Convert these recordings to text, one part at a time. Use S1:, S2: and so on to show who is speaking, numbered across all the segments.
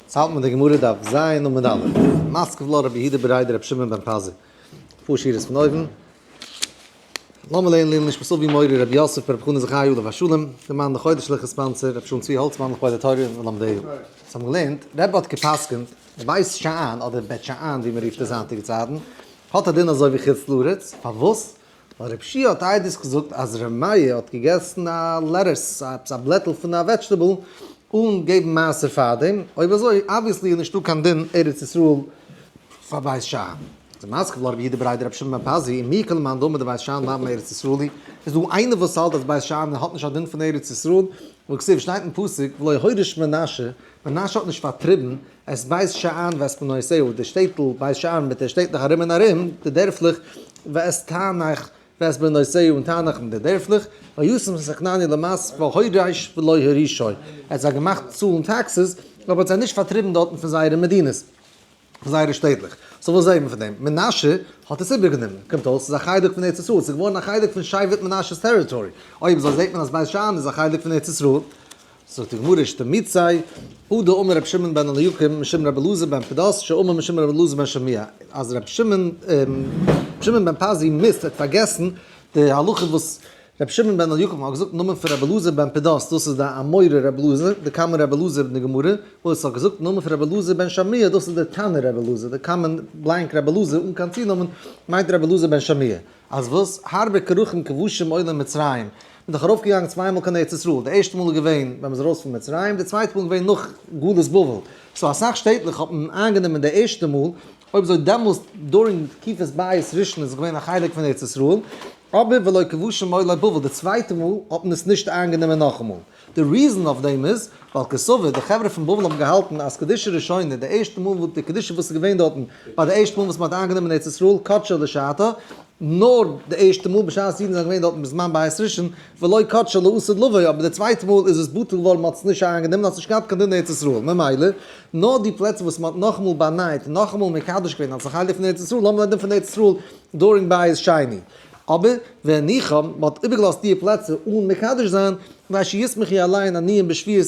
S1: צייט מיט די גמרא דף ז עמוד א', מסקוו לה רבי יהודה בראי דרבי שמעון בן פזי, אפאר שורות פון אויבן, למה לעיל ליל נשמת אבי מורי רבי יוסף ברבי חנא זכריהו עליו השלום, דער מאן דחודש שליחא ספאנסער רבי שמעון צבי האלצמאן לכבוד התורה און לומדיו. אונז האבן געלערנט, רבי האט גע'פסק'נט, בית שאן אדער בעט שאן ווי מען רופט עס היינטיגע צייטן, האט א דין אזוי ווי חוץ לארץ, פארוואס? און רב שי' האט איידערס געזאגט אז ר' מאיר האט געגעסן א לעטוס, עפעס א בלעטל פון א וועדזשטעבל, אן געבן מעשר פארדעם, אויב אזוי אבוויעסלי איז נישטא קיין דין ארץ ישראל פאר בית שאן. צו מזכיר לרבי יהודה בריידער רבי שמעון בן פזי און מיר כל מאן דאמר דבית שאן לאו מארץ ישראל היא, איז דא איינער וואס האלט אז בית שאן האט נישט א דין פון ארץ ישראל, וכסדר שטייט אין פסוק ולא הוריש מנשה, מנשה האט נישט פארטריבן עס בייסט שעהן ואת פנותיהו, די שטעטל בייסט שעהן מיט די שטעטלעך ארום און ארום, די דערפלעך, ואת תענך ואת בנותיהו, און תענך מיט די דערפלעך, וישם את הכנעני למס פ הוריש ולא הורישו, ער האט זיי געמאכט צאלן טעקסעס, אבער האט זיי נישט פארטריבן דארטן פון זייערע מדינות, פון זייערע שטעטלעך. סאו וואס זעהט מען פון דעם? מנשה האט עס איבערגענומען, קומט אויס ס'איז א חלק פון ארץ ישראל, ס'איז געווארן א חלק פון שבט מנשה'ס טעריטארי, אויב אזוי זעהט מען אז בית שאן איז א חלק פון ארץ ישראל, זאגט די גמרא איש תמיצי, הא דאמר רבי שמעון בן אליקים משום רבי אלעזר בן פדס שאמר משום רבי אלעזר בן שמעיה, אז רבי שמעון שמעון בן פזי מיסט האט פארגעסן די הלכה וואס רבי שמעון בן אליקים האט געזאגט נאמען פון רבי אלעזר בן פדס, דאס איז די אמורא רבי אלעזר, די קמא רבי אלעזר אין די גמרא, און עס האט געזאגט נאמען פון רבי אלעזר בן שמעיה, דאס איז די תנא רבי אלעזר, די קמא בלאנק רבי אלעזר אן קיין צונאמען מיינט רבי אלעזר בן שמעיה. אז וואס? הרבה כרכים כבושים עולים מצרים. מען איז דאך ארויף געגאנגען צוויי מאל קיין ארץ ישראל, די ערשטע מאל איז געווען ווען מען איז ארויס פון מצרים, די צווייטע מאל איז געווען נאך גלות בבל, סאו אסאך שטעטלעך האט מען איינגענומען די ערשטע מאל, אויב אזוי דעמאלס דורינג די תקופת בית ראשון איז עס געווען א חלק פון ארץ ישראל, אבער ולא כבושים עולי בבל, די צווייטע מאל האט מען עס נישט איינגענומען נאכאמאל, די ריזען אויף דעם איז ווייל כסבר די חברה פון בבל האבן געהאלטן אז קדושה ראשונה, די ערשטע מאל וואס די קדושה וואס איז געווען דארטן ביי די ערשטע מאל וואס מען האט איינגענומען ארץ ישראל, קדשה לשעתה, נאר די ערשטע מאל בשעת אידן זענען געווען דארטן בזמן בית ראשון, ולא קדשו לאסור לבוא, אבער די צווייטע מאל איז עס בטל געווארן, מען האט עס נישט אריין גענומען, האט נישט געהאט קיין דין ארץ ישראל, ממילא נאר די פלעצער וואס מען האט נאכאמאל באנייט און נאכאמאל מקדש געווען אלס א חלק פון ארץ ישראל, לאמיר רעדן פון ארץ ישראל דורינג בית שני, אבער ווען ניחא מען האט איבערגעלאזט די פלעצער אן מקדש זיין, ווייל שישמח יהיה אליין עניים בשביעות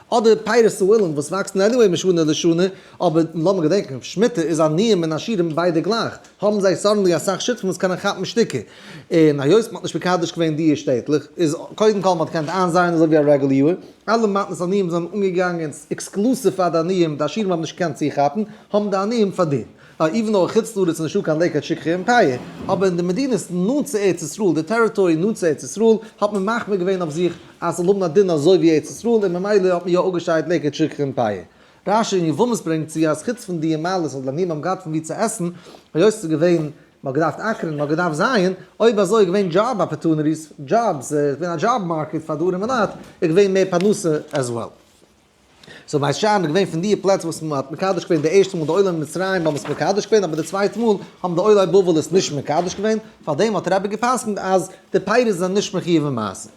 S1: אדער פירות העולם וואס וואקסן עניוועי משנה לשנה, אבער לאמיר געדענקן, שמיטה איז עניים און עשירים ביידע גלייך, האבן זיי סאדענלי אסאך שותפים וואס קענען כאפן שטיקער, און היות מען האט נישט מקדש געווען דיע שטעטלעך, איז קודם כל מען האט געקענט איינזייען אזוי ווי א רעגולע יאר, אלע מתנות עניים זענען אנגעגאנגען עקסקלוסיוו פאר די עניים, די עשירים האבן נישט געקענט צוכאפן, האבן די עניים פארדינט. איווען דאו חוץ לארץ איז נישטא קיין לעיקוואד שיקגער אימפעיר, אבער אין די מדינות נאנט צו ארץ ישראל, די טעריטארי נאנט צו ארץ ישראל, האט מען מחמיר געווען אויף זיך, אז ס'זאל האבן א דין אזוי ווי ארץ ישראל, און ממילא האט מען יא אפגעשיידט לעיקוואד שכחה און פאיע. רש י און יבמות ברענגט צו אז חוץ פון דיע מעלות וואס די עניים האבן געהאט פון ווי צו עסן, היות ס'איז געווען, מ'האט געדארפט אקערן, מ'האט געדארפט זייען, אויב אזוי איז געווען דזשאב אפערטוניטיס, דזשאבס, ס'איז געווען א דזשאב מארקעט פאר די ארימע לייט, איז געווען מער פרנסה עז וועל. סאו בית שאן איז געווען פון דיע פלעצער וואס מען האט מקדש געווען די ערשטע מאל די עולי מצרים האבן עס מקדש געווען אבער די צווייטע מאל האבן די עולי בבל עס נישט מקדש געווען פאר דעם האט רבי געפסקנט אז די פירות זענען נישט מחיוב אין מעשר.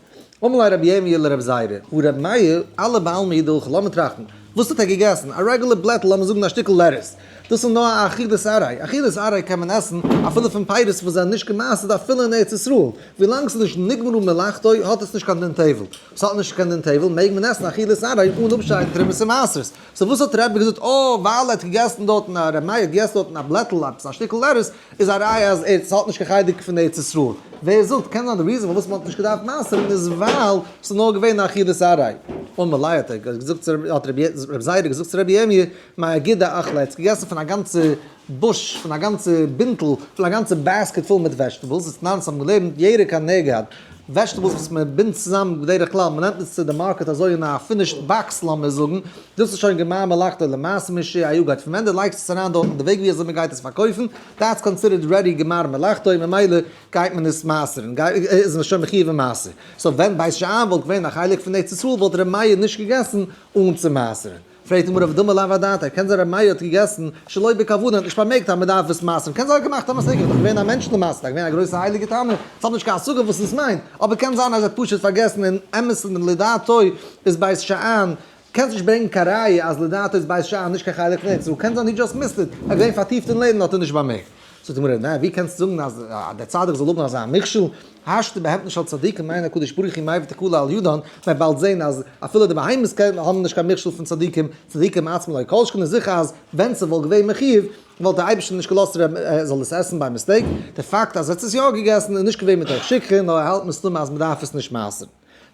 S1: אמלי רבי ירמי' לרב זיירא, הוא רבי מאיר, אלע בעלמא איד הלכה לאמיר טראכטן, וואס האט ער געגעסן? א רעגולער בלעטל לאמיר זאגן א שטיקל לעטערס, דאס איז נאר א עכירת ארעי, א עכירת ארעי קען מען עסן אפילו פון פירות וואס זענען נישט געמעסערט אפילו אין ארץ ישראל, ווילאנג ס'איז נישט נגמרו מלאכתו האט עס נישט קיין דין טבל, ס'האט נישט קיין דין טייוול, מעג מען עסן אכילת ערב אן אפשיידן תרומות און מעשרות. סאו וואס האט רבי געזאגט? אה, ווייל ער האט געגעסן דארטן, רבי מאיר האט געגעסן דארטן א בלעטל, עפעס א שטיקל ערס, איז א ראיה אז ער האט נישט קיין חלק פון ארץ ישראל. ווער זאגט? קען זיין די ריזען פארוואס מ'האט נישט געדארפט מעשר'ן איז ווייל ס'איז נאר געווען אכילת ערב. און מלאי האט ער געזאגט צו רבי, האט רבי זיידע געזאגט צו רבי ירמי', מיין אגודה אכלה, ער האט געגעסן פון א גאנצע בוש פון א גאנצע בינטל, פון א גאנצע בעסקעט פול מיט וועזשטעבלס, איז נאנץ האבן געלערנט ירקה נגד, וועזשטעבלס וואס מען בינדט צוזאם בדרך כלל, מען נעמט עס צו די מארקעט אזוי אין א פינישד באקס לאמיר זאגן, דאס איז שוין געמיין מלאכתו למעשה מי ש א יו גייט פון ווען די לייגסט עס אריין דארטן די וועג ווי אזוי מען גייט עס פארקויפן, דעטס קאנסידערט רעדי גמר מלאכתו ממילא גייט מען עס מעשר'ן, איז מען שוין מחיוב אין מעשר, סאו ווען בית שאן וואלט געווען א חלק פון ארץ ישראל וואלט ר' מאיר נישט געגעסן אן צו מעשר'ן. פרעגט אים רב דמא לאו הדעת ער קען זיין רב מאיר האט געגעסן שלא בכבוד און האט נישט פארמעגט אז מען דארף עס מייסען קען זיין ער האט געמאכט א מסגר דאך געווען א מענטש למעשה דאך געווען א גרויסע הייליגע תנא ס'האט נישט קיין השגה וואס עס מיינט אבער קען זיין אז ער האט פשוט פארגעסן און אמת'ן דעם לדעתו איז בית שאן קענסט נישט ברענגן קיין ראיה אז לדעתו איז בית שאן נישט קיין חלק פון ארץ ישראל קען זיין הי דזשאסט מיסד איט ער איז געווען פארטיפט אין לערנען האט ער נישט באמערקט. זאגט די גמרא, נע, ווי קענסטו זאגן אז דער צדיק זאל האבן אזא מכשול, השתא בהמתן של צדיקים מעיין הקדוש ברוך הוא מאי ותקלא על ידן, זיי באלד זעהן אז אפילו די בהמות האבן נישט קיין מכשול פון צדיקים, צדיקים עצמם לא, כל שכן איז זיכער אז ווען עס וואלט געווען מחיוב, וואלט דער אייבערשטער נישט געלאזט ר' מאיר זאל עס עסן ביי מיסטעיק, דער פאקט אז ער האט עס יא געגעסן איז נישט געווען מתוך שכחה, נאר ער האלט מסתמא אז מען דארף עס נישט מעשר'ן.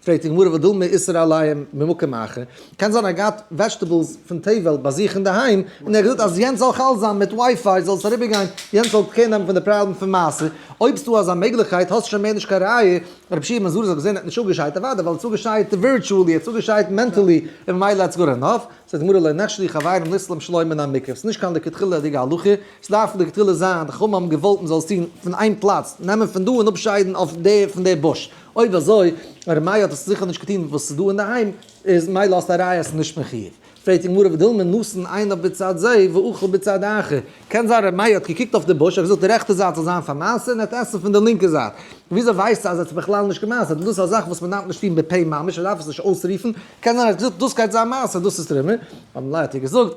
S1: פרעגט די גמרא ודל מאיסר עליים ממקום אחר, קען זיין ער האט געהאט וועזשטעבעלס פון תבל ביי זיך אינדערהיים, און ער האט געזאגט אז יענץ זאל חל זיין מיט ווייפיי זאל עס אריבער גיין, יענץ זאל קער נעמען פון די פראבלעם פון מעשר, אויב ס'דא אזא מעגליכקייט האסט שוין מער נישט קיין ראיה, רבי שמעון בן זרע זאגט וואס ער האט נישט אפגעשיידט, אוודאי ווייל ער האט עס אפגעשיידט ווירטואלי, ער האט עס אפגעשיידט מענטעלי, און ממילא איטס גוד ענאף, זאגט די גמרא לא נחשדי חברים לסלם שלא מן המקרב, ס'איז נישט קיין לכתחילה'דיגע הלכה, ס'דארף לכתחילה זיין די חכמים האבן געוואלט מ'זאל עס טון פון איין פלאץ, נעמען פון דא און אפשיידן אויף דער פון דער בוש. אויב אזוי, און רמיה האט עס זיכער נישט געטון וואס ס'איז דא אינדערהיים, איז מילא האסט א ראיה אז ס'איז נישט מחיוב. פרעגט די גמרא ודילמא נתן עיניו בצד זה ואכל בצד האחר, קען זיין רמיה האט געקוקט אויף די בוש, ער האט געזאגט די רעכטע זייט זאל זיין פאר מעשר און ער האט עסן פון די לינקע זייט. וויאזוי ווייסטו אז ער האט עס בכלל נישט געמעסערט? דאס איז א זאך וואס מ'דארף נישט טון בפה ממש, מ'דארף עס נישט אויסרופן, קען זיין ער האט געזאגט דאס גייט זיין מעשר דאס איז תרומה, און מילא האט ער געזאגט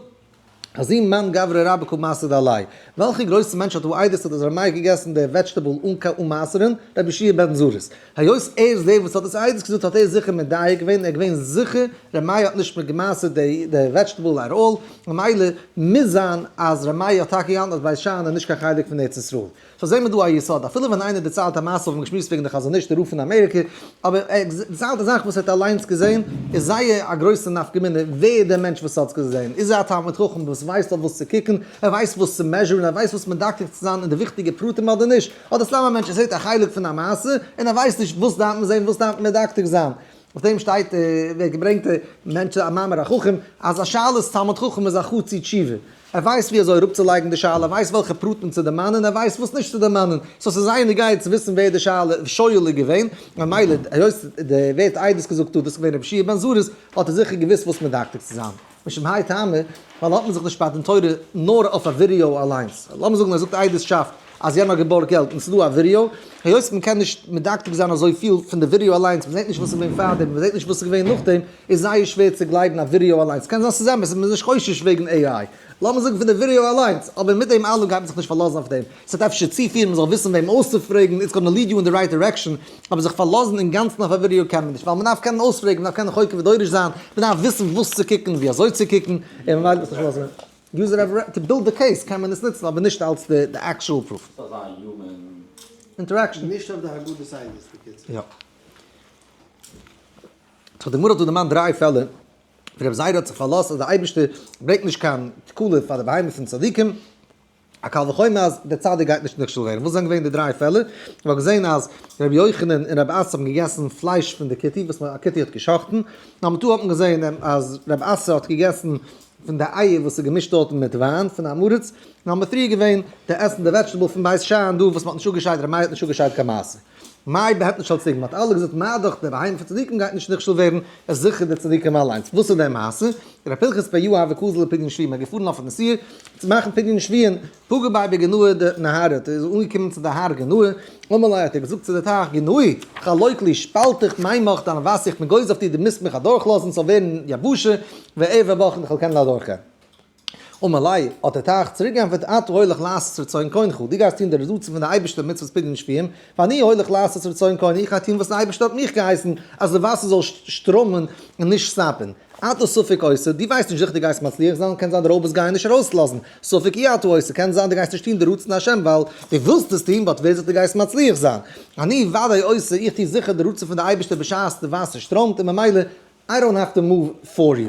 S1: אזים מאן גברא רבא ק מעשה דעלי', וועלכע גרויסע מענטש האט וואו איידערס האט אזוי מייך געגעסן די וועדזשטעבל אן קיין אנמאסערען, רבי ישעי' בן זרז, היות ער איז דער וואס האט עס איידערס געזאגט האט ער זיכער מדייק געווען, ער איז געווען זיכער ר' מאיר האט נישט מיט געמאסערט די וועדזשטעבל עט אלל, ממילא מוז זיין אז ר' מאיר האט טאקע געהאלטן אז בית שאן איז נישט קיין חלק פון ארץ ישראל. סאו זעהן מיר דא א יסוד, אפילו ווען איינער דערציילט א מעשה האבן מיר געשמועסט וועגן די חזון איש די רב פון אמעריקע, אבער ער דערציילט א זאך וואס ער האט אליינס געזעהן, איז זייער א גרויסע נפקא מינה ווער דער מענטש וואס האטס געזעהן, איז ער א תלמיד חכם וואס ווייסט אויף וואס צו קוקן, ער ווייסט וואס צו מעזשורן, ער ווייסט וואס מדקדק צו זיין אין די וויכטיגע פרטים אדער נישט, אדער סתם א מענטש ער זעהט א חלק פון א מעשה און ער ווייסט נישט וואס דארף מען זעהן וואס דארף מען מדקדק זיין. אויף דעם שטייט ווער געברענגט מענטש א מאמר החכם אז א שאלת תלמיד חכם איז א חוץ אי תשובה. ער ווייסט ווי אזוי אראפצולייגן די שאלה, ער ווייסט וועלכע פרטים צו דערמאנען, ער ווייסט וואס נישט צו דערמאנען, סאו ס'איז זייער נוגע צו וויסן ווער די שואל איז געווען, ממילא היות די ווערט עדות געזאגט האט דאס געווען רבי חייא בן זריז, האט ער זיכער געוואוסט וואס מדקדק צו זיין. משום האי טעמא, ווייל האט מען זיך נישט פאר דעם תורה נאר אויף א ווידעא אליינס. לאמיר זאגן ער זאגט עדות שאפט. אז יענער האט געבארגט געלט און ס'דא א ווידעא, היות מ'קען נישט מדקדק זיין אזויפיל פון די ווידעא אליינס, מ'זעט נישט וואס איז געווען פארדעם און מ'זעט נישט וואס איז געווען נאכדעם, איז זייער שווער צו גלייבן א ווידעא אליינס, קען זיין ס'איז אמת און מ'איז נישט חושש וועגן AI, לאמיר זאגן פון די ווידעא אליינס, אבער מיט דעם אלעם גייט מען זיך נישט פארלאזן אויף דעם, ס'וועט אפשר צופירן מ'זאל וויסן וועם אויסצופרעגן, איטס גאנא ליעד יו אין די רייט דירעקשאן, אבער זיך פארלאזן אינגאנצן אויף א ווידעא קען מען נישט, ווייל מ'דארף קענען אויספרעגן, מ'דארף קענען חוקר ודורש זיין, מ'דארף וויסן וואס צו קוקן, ווי אזוי צו קוקן, און ממילא וועט עס נישט אויסזען. יוזער האט רייט טו בילד די קעיס קען מען עס נוצן אבער נישט אלס די עקשועל פרוף. ס'דארף זיין א יומען אינטערעקשאן. נישט אויף די הגדה
S2: סיידעס
S1: בקיצור. יא. סאו די גמרא האט דא דערמאנט דריי פעלער ווי רבי זיידא האט זיך פארלאזט אז די אייבערשטער ברענגט נישט קיין תקלה פאר די בהמה פון צדיקים, א קל וחומר אז דער צדיק גייט נישט נכשל ווערן. וואס זענען געווען די דריי פעלער? מען האט געזען אז רבי יוחנן און רבי אסא האבן געגעסן פלייש פון די כתי וואס א כתי האט גע'שחט'ן, נאמבער טו האט מען געזען אז רבי אסא האט געגעסן פון די אייער וואס איז געמישט דארטן מיט וויין פון א מרץ, און האבן מפריע געווען די עסן די וועטשטעבל פון בית שאן דא וואס מען האט נישט אפגעשיידט רמאי האט נישט אפגעשיידט קיין מעשר מאי בעהט נישט אלס ציגן מען האט אלע געזאגט מה דאך די בהמה פון צדיקים גייט נישט נכשל ווערן עס זיכער די צדיקים אליינס וואס איז די מעשה ר' פנחס פ י אהבה קוזל לפדיון שביעי מען איז געפארן אויף א נסיעה צו מאכן פדיון שביעי און פגע ביי די גנוה די נהרא ת איז אנגעקומען צו די הר גנוה, אמאליי האט ער געזאגט צו די טייך גנוה ת לויט לי שפאלט איך מיין מח דיין ווייס איך מיט גוז אויף דיר די מוזט מיך אדורך לאזן ס'זאל ווערן יבשה וער וער בך איך זאל קענען אדורך גיין. אמאליי האט די טייך צוריק גענטפערט אתה הולך לעשות רצון קונך דו גייסט טון די רצון פון די אייבערשטער מצוות פדיון שביעם ואני הולך לעשות רצון קוני איך גיי טון וואס די אייבערשטער האט מיך געהייסן אז די וואסער זאל שטראמען און נישט סטאפען אתה ספק עושה דו ווייסט נישט זיכער דו גייסט מצליח זיין קען זיין די רויבערס גייען נישט ארויסלאזן ספק אי אתה עושה, קען זיין דו גייסט נישט טון די רצון השם ווייל דו ווילסט עס טון, באט ווער זאגט דו גייסט מצליח זיין? אני ודאי עושה, איך טו זיכער די רצון פון די אייבערשטער בשעת די וואסער שטראמט און ממילא איי דאנט האוו טו מאוו פאר יו.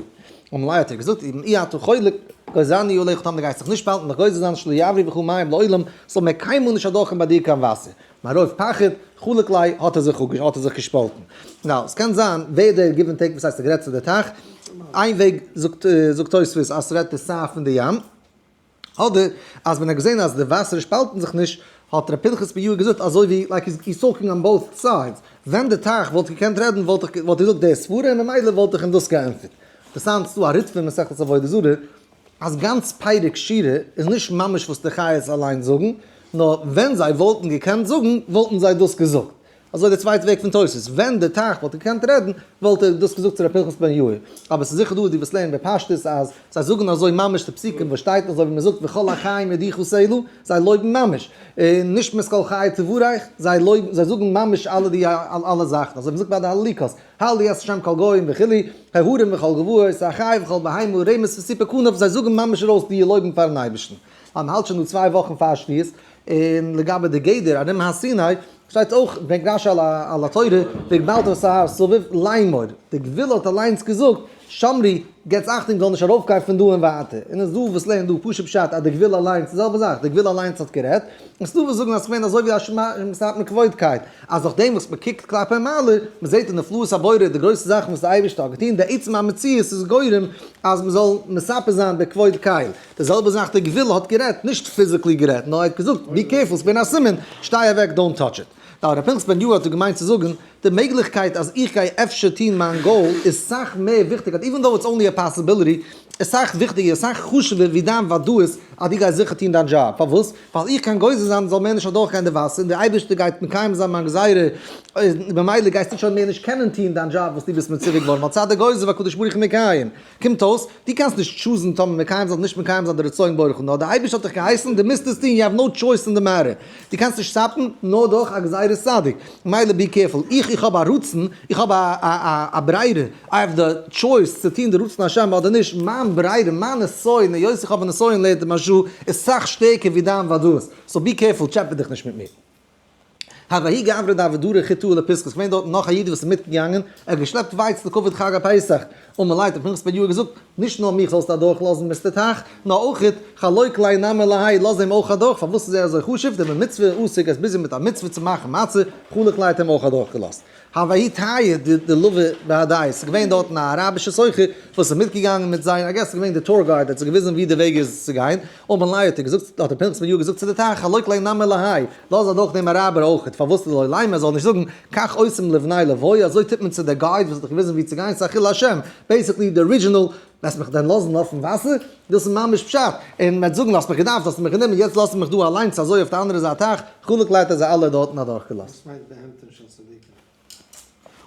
S1: אולי האט ער געזאגט אי אי אתה חולק, גוזר אני עליך טאמער דו גייסט זיך נישט באהאלטן דיך גוזר זיין שלא יעברו בך מים לעולם, ס'זאל מער קיינמאל נישט אדורכקומען ביי דיר קיין וואסער, מרוב פחד חלק ליה האט ער זיך אפ האט ער זיך געשפאלטן. נאו, ס'קען זיין ווער דער גיוו ענד טעיק וואס הייסט ער גערעדט צו די טייך, איין וועג זאגט זאגט תוספות אז ס'רעדט ער סיי פון די ים, אדער אז ווען ער האט געזען אז די וואסער שפאלטן זיך נישט האט ר' פנחס בן יואל געזאגט אזוי ווי לייק היז היז טאלקינג אן בויס סיידס, ווען די טייך וואלט געקענט רעדן וואלט איך וואלט איך געזאגט די סברה און ממילא וואלט איך אים דאס געענטפערט. אינטערסאנט ס'דא א ריטפא אין מסכת עבודה זרה אז גאנץ פרק שירה איז נישט ממש וואס די חיות אליין זאגן, נאר ווען זיי וואלטן געקענט זאגן וואלטן זיי דאס געזאגט. אזוי די צווייטע וועג פון תוס', ווען די תח וואלט געקענט רעדן וואלט ער דאס געזאגט צו ר' פנחס בן יאיר. אבער ס'איז זיכער דא די וואס לערנען בפשטות אז זיי זאגן אזוי ממש די פסוקים וואס שטייט אזוי ווי מען זאגט וכל החיים ידיחו סלו, זיי לויבן ממש, און נשמת כל חי תבורך, זיי לויבן, זיי זאגן ממש אלע די אלע זאכן, אזוי ווי מען זאגט ביי די הלליקות, הל' יעש השם כל גוים וכו', הערים וכל גבעות, א חי וכל בהמה, רמש וסיפור כנף, זיי זאגן ממש ארויס די לויבן פארן אייבערשטן. אז מ'האלט שוין דא צוויי וואכן פאר שביעית, און לגבי די גדר ארום הר סיני, שטייט אויך בנגרש על התורה, וגבלת את ההר סביב, ליין מור, די גבול האט אליינס געזאגט, שמרי, געטס אכטונג זאל נישט ארויפגיין פון דא און ווייטער. און עס איז דא וואס לערנען דא פשוט פשט אז די גוויל אליינס, די זעלבע זאך, די גוויל אליינס האט גערעדט, און עס איז דא וואס זאגן אז עס איז געווען אזוי ווי א שמסייט מכבוד'קייט, אז נאכדעם וואס מען קוקט כלפי מעלה, מען זעט די נפלאות הבורא, די גרויסע זאכן וואס די אייבערשטער האט געטון, די עצם המציאות איז גורם אז מען זאל מספר זיין די כבוד קייל. די זעלבע זאך די גוויל האט גערעדט, נישט פיזיקלי גערעדט, נאר ער האט געזאגט, בי קערפול, עס איז געווען א סימן, שטיי אוועק, דאונט טאטש איט. נאר הרב פנחס בן יואל האט דא געמיינט צו זאגן, די מעגליכקייט אז איך גיי אפשר טון מיין גאול איז סאך מער וויכטיגער, איווען דאו איטס אנלי א פאסיביליטי, איז סאך וויכטיגער, סאך חשוב'ער ווי דיין וודאות אז דו גייסט זיכער טון דיין דזשאב, פארוואס? ווייל איך קען גוזר זיין ס'זאל מער נישט אדורכגיין די וואסער, און דער אייבערשטער גייט מקיים זיין מיין גזירה, און ממילא גייסטו שוין מער נישט קענען טון דיין דזשאב וואס דו ביסט מצווה געווארן, ווייל צד הגוזר והקדוש ברוך הוא מקיים. קומט אויס, דו קענסט נישט טשוזן טאמער מקיים זיין אדער נישט מקיים זיין די רצון בורא כ נ, די אייבערשטער האט דיך געהייסן, דו מוזט עס טון, יו העוו נאו טשויס אין די מעטער, דו קענסט נישט סטאפן נאר דורך א גזירת צדיק, מילא בי קערפול, איך איך האב א רצון, איך האב א א א ברירה, איי העוו די טשויס צו טון די רצון השם אדער נישט, מיין ברירה, מיין נסיון, היות איך האב א נסיון לערנט די משהו, איז סאך שטערקער ווי דיין ודאות, סאו בי קערפול, טשעפע דיך נישט מיט מיר. הוי' גברא דעבדרא חיטא אלי פסקא, ס'געווען דארטן נאך א איד וואס איז מיטגעגאנגען, ער האט געשלעפט ווייץ לכבוד חג הפסח, און מען ליידט אויף מנחת פדיון האט געזאגט, נישט נאר מיך זאלסטו אדורך לאזן מיסטער טייך, נאר אויכעט חלוי קליין נמר להי' לאז אים אויך אדורך, פארוואס איז ער אזוי חשוב, די במצוה עסק עס ביז יום מיט א מצוה צו מאכן מצה, חלוי קליין האט אים אויך אדורך געלאזט. האוואאי טייער די די לווי באדייס איז געווען דארטן א אראבישע סוחר וואס איז מיטגעגאנגען מיט זיי איי געס איז געווען די טור גייד האט זיי געוויזן ווי די וועג איז צו גיין אבן לייב האט אים געזאגט האט אים פנחס בן יואל געזאגט צו די טייך הלא קלי נמי להאי לאז אדורך דעם אראבער אויכעט פארוואס לוי לייב מען זאל נישט זאגן כך עושים לבני לוי אזוי טוט מען צו די גייד וואס האט דיך געוויזן ווי צו גיין ס'איז א חילול השם בעיסיקלי די ארידזשינעל וועסט מיך דען לאזן אויפן וואסער? דאס איז ממש פשט און מען וועט זאגן האסט מיך געדארפט האסטו מיך גענומען יעצט לאזט מען מיך דא אליינס אזוי אויף די אנדערע זייט טייך חנוק לייט האט זיי אלע דארטן אדורך געלאזט.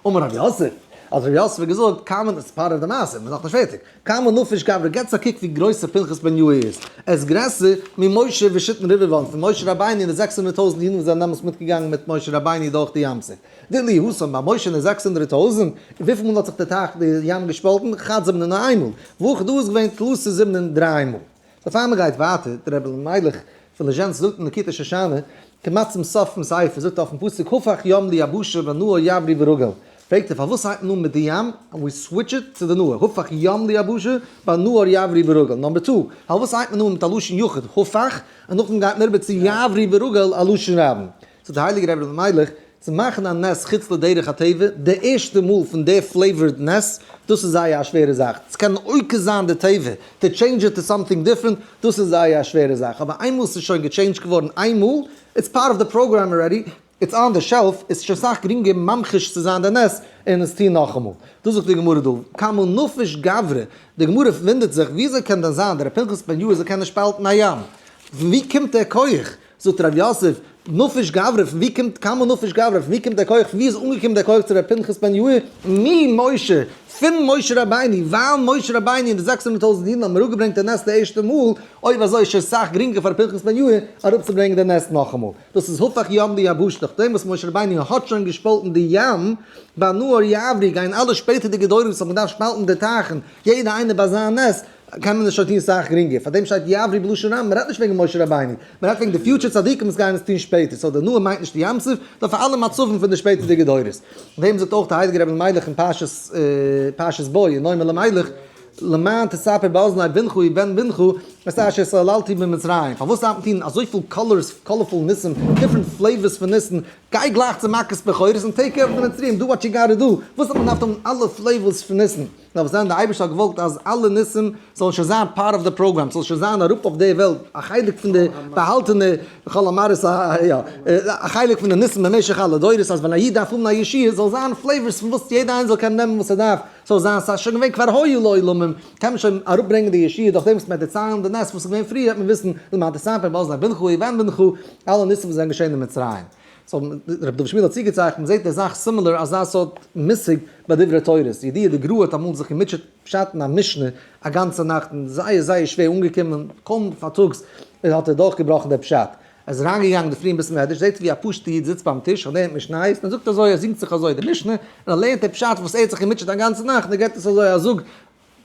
S3: אמר
S1: רבי יוסף, האט רבי יוסף געזאגט, קאם אן עס פארעוו די מעשה, מ'איז נאכנישט פערטיג, קאם אן נפש גברא געטס א קוק ווי גרויס ר' פנחס בן יוא' איז, ער איז גרעסער ממשה ושיתן רבבות פון משה רבינו און די זעקס הונדערט טויזנט אידן וואס זענען דעמאלס מיטגעגאנגען מיט משה רבינו דורך די ים סוף, דיללי האסון ביי משה און די זעקס הונדערט טויזנט, און וויפיל מאל האט זיך די טייך די ים געשפאלטן, כד זיבן און איין מאל, וכדו איז געווען תלסי זיבן און דריי מאל. בעפאר מען גייט ווייטער, דער רבי אלימלך פון ליזשענסק זאגט אין ליקוטי שושנה, כמעט צום סוף פון ספר, זאגט ער אויפן פסוק הפך ים ליבשה ונהר יברי' ברגל, פרעגט ער פארוואס הייבט מען אן מיט די ים און ווי סוויטש איט צו די נהר, הפך ים ליבשה ונהר יברי' ברגל, נאמבער טו, פארוואס הייבט מען אן מיט א לשון יחיד הפך און נאכדעם גייט מען אריבער צו יברי' ברגל א לשון רבים. צו די הייליגע רבי רבי מיילעך צו מאכן א נס חוץ לדרך הטבע, די ערשטע מאל פון די פלעיווארד נס, דאס איז זייער א שווערע זאך, צו קענען עוקר זיין די טבע, טו טשעינדזש איט טו סאמטינג דיפרענט, דאס איז זייער א שווערע זאך, אבער איינמאל ס'איז שוין געטשעינדזשט געווארן איין מאל, איטס פארט אוו די פראגראם ארעדי, איטס אן די שעלף, איז שוין סאך גרינגער ממחיש צו זיין די נס און עס טון נאכאמאל. דאס זאגט די גמרא דא, כמה נפש גברא, די גמרא וואונדערט זיך, וויאזוי קען דען זיין דער ר' פנחס בן יואל זי ע קען נישט שפאלטן א ים? פון וואו קומט דער כח? זאגט הרב יוסף, נפש גברא, פון ווי קומט קמא נפש גברא, פון ווי קומט דער כח, פון ווי איז אנגעקומען דער כח צו רבי פנחס בן יאיר, ממשה, פון משה רבינו, ווייל משה רבינו און די זעקס הונדערט טויזנט אידן האבן אראפגעברענגט דער נס די ערשטע מאל, אויב אזוי איז שוין סאך גרינגער פאר רבי פנחס בן יאיר אראפצוברענגען דער נס נאכאמאל. דאס איז הפך ים ליבשה, נאכדעם וואס משה רבינו האט שוין געשפאלטן די ים, ביי נהר יעברי גייען אלע שפעטערדיגע דורות וואס האבן געדארפט שפאלטן די טייכן, יעדער איינער ביי זיין נס, קען מען עס שוין טון סאך גרינגער, פארדעם שטייט יעברי בלשון רבים, מען רעדט נישט וועגן משה רבינו, מען רעדט וועגן די פיוטשער צדיקים וואס גייען עס טון שפעטער, סאו די נאה מיינט נישט ים סוף, נאר פאר אלע מצבים פון די שפעטערדיגע דורות. דעם זאגט אויך דער הייליגער רבי מיילעך אין פרשת בוא, אין נועם אלימלך, למען תספר באזני בנך ובן בנך את אשר סללתי במצרים, פארוואס דארף מען טון אזויפיל קאלערס, קאלערפול ניסים, דיפרענט פלעיווערס פון ניסים, גיי גלייך צו מכות בכורות און טעיק קעיר אוו די מצרים, דא וואט יו גאטע דא, פארוואס האט מען געדארפט האבן אלע פלעיווערס פון ניסים? דארף זיין די אייבערשטער האט געוואלט אז אלע ניסים זאלן שוין זיין פארט אוו די פראגראם, ס'זאל שוין זיין אראפ אויף די וועלט א חלק פון די באהאלטענע חול המערית יא א חלק פון די ניסים במשך אלע דורות אז ווען א איד דארף האבן א ישועה זאל זיין פלעיווארס פון וואס יעדער איינער זאל קענען נעמען וואס ער דארף, ס'זאל זיין ס'איז שוין געווען כבר היו לעולמים קען מען שוין אראפ ברענגען די ישועה דורך דעם וואס מען וועט דערציילן די נס וואס איז געווען פריער וועט מען וויסן למטה סנפר באזני בנך ובן בנך אלע ניסים וואס זענען געשען אין מצרים. סאו רבי דוד שפירא האט צוגעצייכנט, מ'זעט די זאך סימילער אזא סארט מושג ביי דברי תורה, די ידיעה די גרא האט אמאל זיך געמוטשעט פשט'ן א משנה א גאנצע נאכט און זייער זייער שווער אנגעקומען, קוים פארטאגס האט ער דורכגעבראכן די פשט, ער איז אריינגעגאנגען די פרי אין בית מדרש זעט ער ווי א פשוטע איד זיצט ביים טיש און לערנט משניות און ער זאגט אזוי ער זינגט זיך אזוי די משנה און ער לערנט די פשט וואס ער האט זיך געמוטשעט א גאנצע נאכט און ער געבט עס אזוי א זאג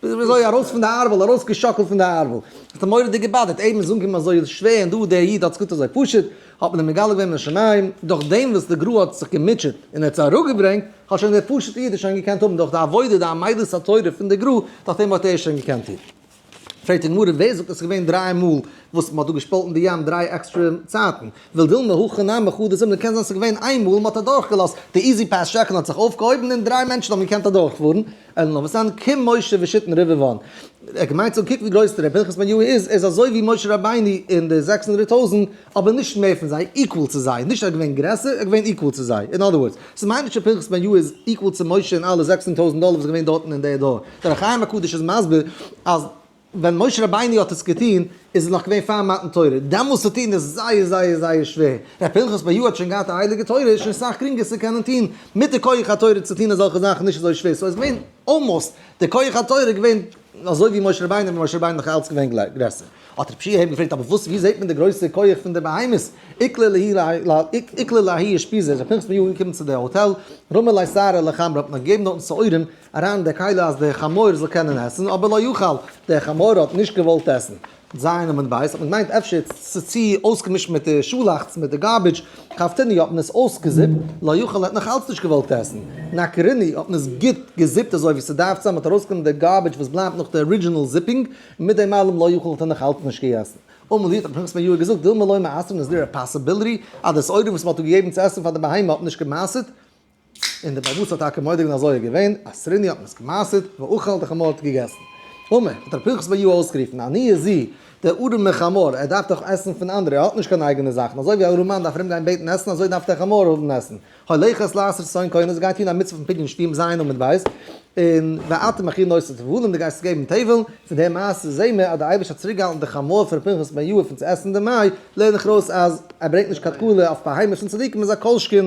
S1: ביז וויאזוי ארויס פון די ארבל, ארויס געשאקלט פון די ארבל, האט אים מורא'דיג געבאדערט, איידער מ'איז אנגעקומען אזוי שווער און דא דער איד האט עס גוט אזוי פשוט, האט מען אים מגלה געווען מן השמים, דורך דעם וואס די גרא האט זיך געמוטשעט און ער האט עס אראפגעברענגט, האט שוין דער פשוט'ע איד עס שוין געקענט האבן דורך די עבודה די עמדת התורה פון די גרא, דורך דעם האט ער עס שוין געקענט טון. פרעגט די גמרא, ווער זאגט אז עס איז געווען דריי מאל וואס מ'האט דא געשפאלטן די ים דריי עקסטרע צייטן, ולדילמא הכא נמי חו דזימנא, קען זיין עס איז געווען איין מאל מ'האט אדורך געלאזט די איזי פעס שעקל און האט זיך אויפגעהויבן און דריי מענטשן האבן געקענט אדורך פארן, אלא נאר וסען כ משה ושתן רבבון, ער האט געמיינט צו קוקן ווי גרויס דער ר' פנחס בן יהוה איז, ער איז אזוי ווי משה רבינו און די זעקס הונדערט טויזענט, אבער נישט מער פון זיי, equal צו זיי, נישט ער איז געווען גרעסער, ער איז געווען equal צו זיי, אין אדער ווארדס, ס'מיינט נישט שפנחס בן יהוה איז equal צו משה און אלע זעקס הונדערט טויזענט דאלער וואס איז געווען דארטן אין די דור, דער חי הקדוש איז מסביר אז. ווען משה רבינו האט עס געטון איז עס נאך געווען פאר מתן תורה, דעמאלס צו טון איז זייער זייער זייער שווער, ר' פנחס ב י האט שוין געהאט א הייליגע תורה איז שוין סאך גרינגער צו קענען טון, מיט די כח התורה צו טון אזעלכע זאכן נישט אזוי שווער, סאו איז געווען אלמאסט די כח התורה איז געווען אזוי ווי משה רבינו ווען משה רבינו נאך אלץ געווען גרעסער, האט רב שיהי' געפרעגט אבער וואס ווי זעהט מען די גרויסע כח פון די בהמות, איקלע להי איקלע להי אושפיזין, ר' פנחס ב י איז אנגעקומען צו די האטעל, רומא לייסערא לחמרא האט מען געגעבן דארטן שעורים, אריין אין די קהלה אז דער חמור זאל קענען עסן, אבער לא יאכל, דער חמור האט נישט געוואלט עסן. ז' אמות בית האט מען געמיינט אפשר ס'איז צו אויסגעמישט מיט די שאלאכץ, מיט די גארבידזש, קאפטעני האט מען עס אויסגעזיפט, לא יאכל ער האט נאך אלץ נישט געוואלט עסן, נקרני האט מען עס גוט געזיפט אזוי ווי ס'דארף צו אז מ'האט ארויסגענומען די גארבידזש וואס בלייבט נאך די ארידזשינעל זיפינג, און מיט דעם אלעם לא יאכל האט ער נאך אלץ נישט געגעסן. אמאל היט האט פנחס בן יואל געזאגט דילמא לא מעשרין איז דא א פאסיביליטי אז די סעודה וואס מ'האט געגעבן צו עסן פאר די בהמה האט נישט געמעשרט, און דער בעל בתּ האָט טאַקע מודה געװען אַז אָיער געװען, אַ סרינע האָט מען עס געמאַסרט, ואוכל את החמור האָט געגעסן. אמער, האָט ר' פּנחס בײַ יאָ אױסגערופֿן, אַ ניע זי, דער אָרעמער חמור, ער דאַרף דאָך עסן פֿון אַנדערע, ער האָט נישט קײן אײגענע זאַכן, אַזױ װי אַ אָרעמאַן דאַרף אַרומגײן בעטן עסן, אַזױ דאַרף דער חמור האָבן עסן. הולכת לעשות צאן קונות, גײט טאָן אַ מיצװה פֿון פּדיון שטים זײַן און מיט בית, און ואתה מכין נושא תבֿלים, דו גײסט געבן תבֿלין, פֿון דער מעשה זעען מיר, אַז דער אײבערשטער האָט צוריקגעהאַלטן דער חמור פֿון ר' פּנחס בן יהוה פֿון צו עסן, דערמאַי לערן איך אַרױס, אַז ער ברענגט נישט קײן תּקלה אױף בײַ הײמישן צדיקים, און זײ כּל-שכן,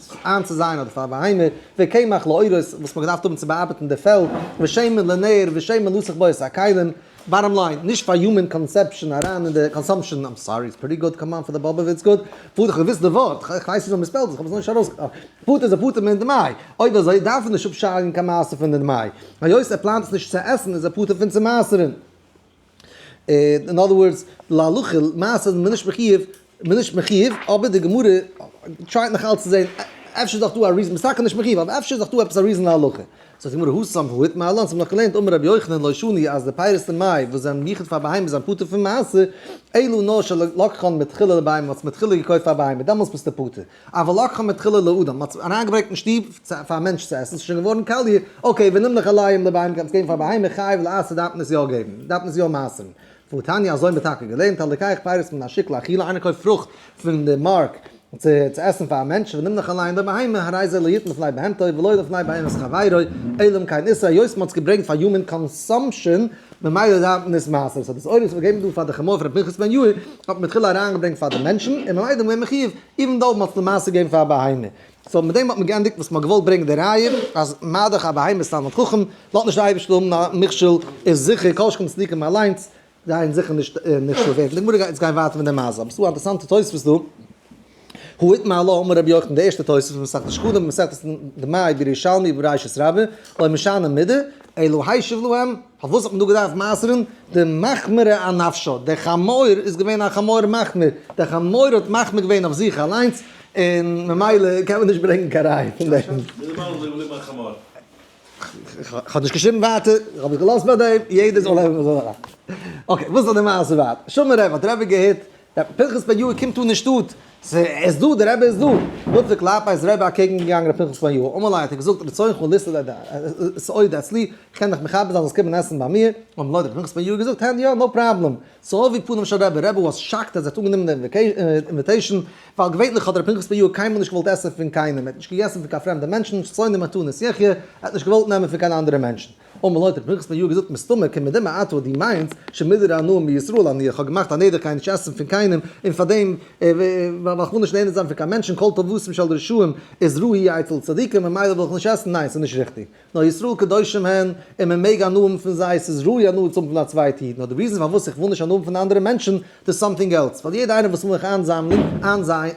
S1: זיך איינצוזייען אדער פאר א בהמה, וקמח לאורות וואס מ'האט געדארפט האבן צו באארבעטן די פעלד, ושמן לנר ושמן לסך בויערס הכלים, באטאם ליין, נישט פאר יומען קאנסעפשאן אריין אין די קאנסאמפשאן, איים סארי איטס פריטי גוד, קאם אן פאר די באבע וויץ גוד, פארט איך האב געוויסט די ווארט, איך ווייס נישט ווי מ'ספעלט עס, איך האב עס נאר נישט ארויס פארט איז א פטור מן דמאי, אויב אזוי דארף ער נישט אפשארגן קיין מעשר פון די דמאי, היות ער פלאנט עס נישט צו עסן איז ער פטור פון צו מעשר'ן. אין אדער ווארדס, להלכה למעשה איז מען נישט מחיוב, מען איז נישט מחיוב, אבער די גמרא טרייט נאך אלץ צו זען אפשר איז דאך דא א ריזאן, משא כ נישט מחיוב, אבער אפשר איז דאך דא עפעס א ריזאן להלכה. זאגט די גמרא הא סמך הא איתמר לן, ס'מען דאך געלערנט אמר רבי יוחנן לא שני אז די פירות אין מאי וואס זענען יחוד פאר בהמות זענען פטור פון מעשר, אלא נאר שלקחן מתחילה לבהמה, מ'האט עס מתחילה געקויפט פאר בהמה, דעמאלטס ביסטו פטור. א ולקחה מתחילה לאדם, מען האט אריינגעברענגט אין שטוב פאר א מענטש צו עסן, ס'איז שוין געווארן קאליע, אקעי, ווען נמליך על ליים לבהמה קענסט געבן פאר בהמה, חייב לעשה דארף מען עס יא געבן, דארף מען עס יא מעשר'ן, והתניא אזוי האט מען טאקע געלערנט, הלקח פירות מן השוק לאכילה, איינער קויפט פרוכט פון די מארק צו עסן פאר א מענטש, ונמליך על ליים לבהמה, הרי זה לא יתן לפני בהמתו ולא לפני בהמת חברו, עלם קיין איסור, היות מען האט עס געברענגט פאר יומען קאנסאמפשען, ממילא דארף מען עס מעשר, סאו דאס אויל וואס מ'האט געגעבן דא פאר די חמור פון ר' פנחס בן יואל, האט מען תחילה אריינגעברענגט פאר די מענטשן, און ממילא איז מען מחיוב, איווען דאו מ'האט עס למעשה געגעבן פאר א בהמה. סאו מיט דעם האט מען געענדיגט וואס מ'האט געוואלט ברענגען די ראיה, אז מדכ א בהמה איז תלמיד חכם, לאט נישט די אייבערשטער האבן א מכשול, איז זיכער כל שכן צדיקים אליינס גייען זיכער נישט נכשל ווערן. די גמרא גייט יעצט גיין ווייטער מיט די מעשה, אבער ס'איז דא א אינטערעסאנטע תוספות דא, הוא התמלא אמר רבי יוחנן די ערשטע תוספות פון מסכת שקדים במסכת ד מאי ב ירושלמי בראשית רבה אוי משנה מידה אלא הישב להם פארוואס האט מען דא געדארפט מעשר'ן די מחמיר ע נפשו די חמור איז געווען א חמור מחמיר די חמור האט מחמיר געווען אויף זיך אליינס און ממילא קען מען נישט ברענגן קיין ראיה פון דעם. כ'האב נישט געשריבן ווייטער, כ'האב עס געלאזט ביי דעם, יעדער זאל לעבן ווי ער זאל. אקעי, וואס איז די מעשה ווייטער? שמע רבי, האט רבי געהערט דער פנחס בן יואל קומט אן אין שטאט, עס איז דא, דער רבי איז דא. נוצר ק לאפא איז רעב אקעגן געגאנגען רבי פנחס בן יואל, אמאל איי האט ער געזאגט רצונך לסעודה סעודה אצלי, איך קען דיך מכבד זיין זאלסט קומען עסן ביי מיר, אמאל האט רבי פנחס בן יואל געזאגט הענד יא נאו פראבלעם, צו אבי פניו של רבי, רבי וואס שאקט אז ער האט אנגענומען די אינוויטעישן, ווייל געווענליך האט רבי פנחס בן יואל קיינמאל נישט געוואלט עסן פון קיינעם, ער האט נישט געגעסן פון קיין פרעמדע מענטשן, שונאים מתנות יחיה, ער האט נישט געוואלט נעמען פון קיין אנדערע מענטשן. און מען לויט פנחס פון יאר געזאגט מסתמא קען מען דעם מעט וואס דו מיינסט שוין מידער הנאה מישראל אני איך האב געמאכט א נדר קיין נישט עסן פון קיינעם און פאר דעם ווייל איך וויל נישט נהנה זיין פון קיין מענטשן כל טובתם של רשעים איז רעה היא אצל צדיקים ממילא וויל איך נישט עסן ניין ס'איז נישט ריכטיג נאר ישראל קדושים הן און מען מעג הנאה האבן פון זיי ס'איז ראוי הנאה צו האבן פון א צווייטע איד נאר די ריזען פארוואס איך וויל נישט הנאה האבן פון אנדערע מענטשן דאס סאמטינג עלס ווייל יעדע איינער וואס וויל מיך איינזאמלן איינזיין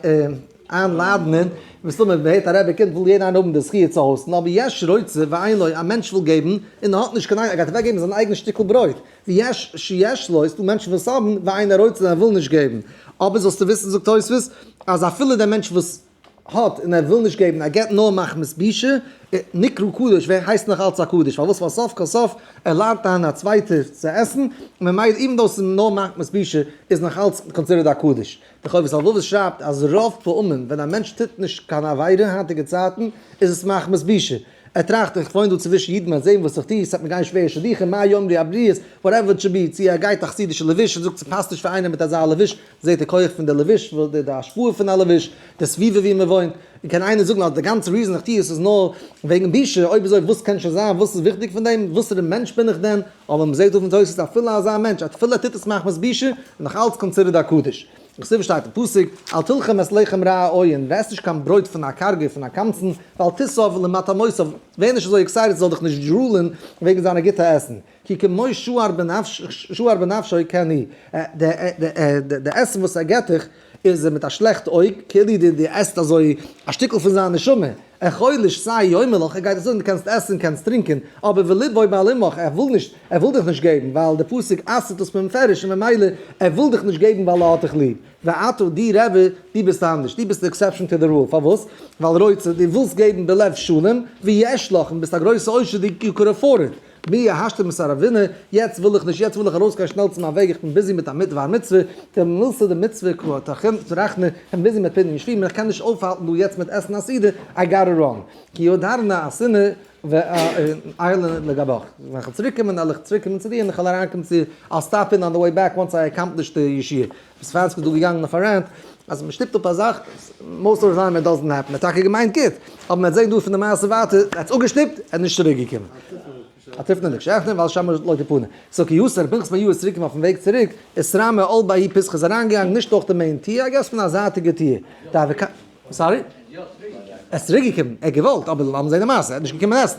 S1: איין לאדענען, מסתמא מ'הערט א רבי קומט וויל יעדער איינער האבן די זכי' צו האוסטן, אבער יש רוצה ואין לו, א מענטש וויל געבן און ער האט נישט קיין איין, ער גייט אוועק געבן זיין אייגענע שטיקל ברויט, ויש שיש לו, עס איז דא מענטשן וואס האבן ואין רוצה און ער וויל נישט געבן, אבער זאלסטו וויסן זאגט תוספות, אז אפילו דער מענטש וואס האט און ער וויל נישט געבן, ער געבט נאר מחמת בושה, נקרא קדוש, ווערט הייסט נאך אלץ א קדוש, פארוואס ווייל סוף כל סוף ער לאדענט איין א צווייטער צו עסן, ממילא איווען דאו עס איז נאר מחמת בושה איז נאך אלץ קאנסידערט א קדוש, דער חובת הלבבות שרייבט אז רוב פעמים ווען א מענטש טוט נישט קיין עבירה היינטיגע צייטן איז עס מחמת בושה, ער טראכט איך וואוין דא צווישן אידן וועט זען וואס איך טו, ס'וועט מיר גיין שווער שידוכים, מה יאמרו הבריות, וואטעווער איט שוד בי, צו ער גייט א חסידישע לבוש און זאגט ס'פאסט נישט פאר איינער מיט אזא לבוש, זעט ער כח פון די לבוש, די השפעה פון א לבוש, די סביבה ווי מען וואוינט, און קען איינער זאגן אז די גאנצע ריזאן איך טו עס איז נאר וועגן בושה, אויב אזוי וואס קען שוין זיין, וואס איז וויכטיג פון דעם, וואסערע מענטש בין איך דען, אבער מען זעט דא פון תוס' אז אפילו אזא מענטש א תפילה טוט עס מחמת בושה איז נאך אלץ קאנצידערד א קדוש. כסדר שטייט אין פסוק, אל תלחם את לחם רע העוין, ווער עסט נישט קיין ברויט פון א קארגער, פון א קמצן, ואל תסב למטעמותיו, ווער נישט אזוי עקסייטעד זאל דיך נישט דזשולען וועגן זיינע גוטע עסן, כי כמו שוער בנפשו כן היא, די עסן וואס ער געט דיך, איז ער מיט א שלעכט אויג, כאילו דו דו עסט אזוי א שטיקל פון זיין נשמה, ער חלש סיי יאמר לך, ער גייט דיך זאגן דו קענסט עסן, קענסט טרינקען, אבער ולבו מעלימך, ער וויל נישט, ער וויל דיך נישט געבן, ווייל דער פסוק אסר'ט עס במפרש און ממילא ער וויל דיך נישט געבן ווייל ער האט דיך ליב. ואתה די רבי, דו ביסט אנדערש, דו ביסט די עקסעפשאן טו די רול, פארוואס? ווייל רוצה, דו ווילסט געבן בלב שלם, ויש לך, און ביסט א גרויסע עושר, דו יו קען עפארד איט. מי יהשתר מסער אבינו, יעצט וויל איך נישט, יעצט וויל איך ארויס גיין שנעל צו מיין וועג, איך בין ביזי מיט א מיט וויי מצוה, די מילתא דמצוה קרא תחום צו רחמי, איך בין ביזי מיט פדיון שבויים, איך קען נישט אויפהאלטן דא יעצט מיט עסן א סעודה, איי גאטע ראן, כי עוד ארנה אסנה ואיילנה לגביך, ווען איך וועל צוריק קומען וועל איך צוריק קומען צו דיר און איך וועל אריין קומען צו דיר, I'll stop in on the way back once I accomplish the ישיבה, איז פראנצקי דא געגאנגען אויף א רענט אז מען שטופט אפ א זאך, מאוסט אוו די טיים איט דאזענט העפען, ער האט טאקע געמיינט גוט, אבער מען האט געזען דא פון די מעשה ווייטער, ער האט עס אפגעשטופט, ער איז נישט צוריק געקומען. א טיפן און עקשעכטן ווייל שם לא תפנה. סאו כ י סער פנחס מאיר איז צוריק און אויפן וועג צוריק איז ס ר מ אל ב י פסח איז אריינגעגאנגען נישט דורך די מעין טיר, איי געס פון א זייטיגע טיר. די אוועקאט. סארי? ער איז צוריקגעקומען. ער האט געוואלט אבער לאמיר זעהן די מעשה. ער איז נישט געקומען עסן.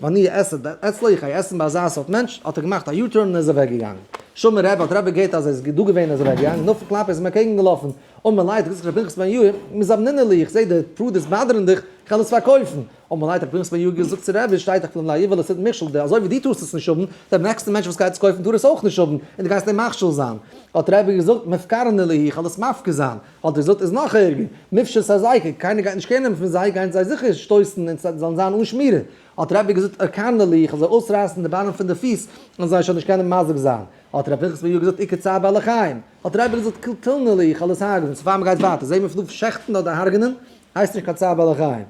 S1: ואני אעשה דעת אצלי, איך גיי עסן ביי אזא סארט מענטש, האט ער געמאכט א יו-טורן און איז אוועק געגאנגען. שומער רב האט רבי געהערט אז ער איז דא געווען און איז אוועק געגאנגען, נאך פון קלאפ איז ער אים אנטקעגן געלאפן, אוי מיר ליידט, ר' פנחס בן יהוה, מיר זאבנינער לי, איך זעה די פרודות באדערן דיך, איך העל עס פארקויפן. אוי מיר ליידט, ר' פנחס בן יהוה געזאגט צו רבי, שטייט דאך פון דעם לאיוועלע סידן מכשול, די אזוי ווי דו טארסט עס נישט האבן, דער נעקסטע מענטש וואס גייט עס קויפן טאר עס אויך נישט האבן, און דו גייסט אים מכשול זיין. האט רבי געזאגט, מפקרני לי, איך העל עס מפקיר זיין. האט ער געזאגט איז נאך ערגער, מופשט א זיי ק, קיינער גייט נישט קער נעמען פון זיי, גייען זיי זיכער שטויסן און זיי זאלן זיין אן שמירה, האט ר' אביגדור געזאגט ארקאנע לי, איך וועל זיי אויסרייסן די ביינער פון די פיס, און זיי שוין נישט קענען מזיק זיין, האט ר' פנחס בן יהודה געזאגט עיקר צער בעלי חיים, האט ר' אביגדור געזאגט קלטלנה לי, איך וועל עס הרג'נען, צו פאר מען גייט ווייטער זעהן מיר פון דא פון שעכטן אדער הרג'נען, הייסט נישט קיין צער בעלי חיים.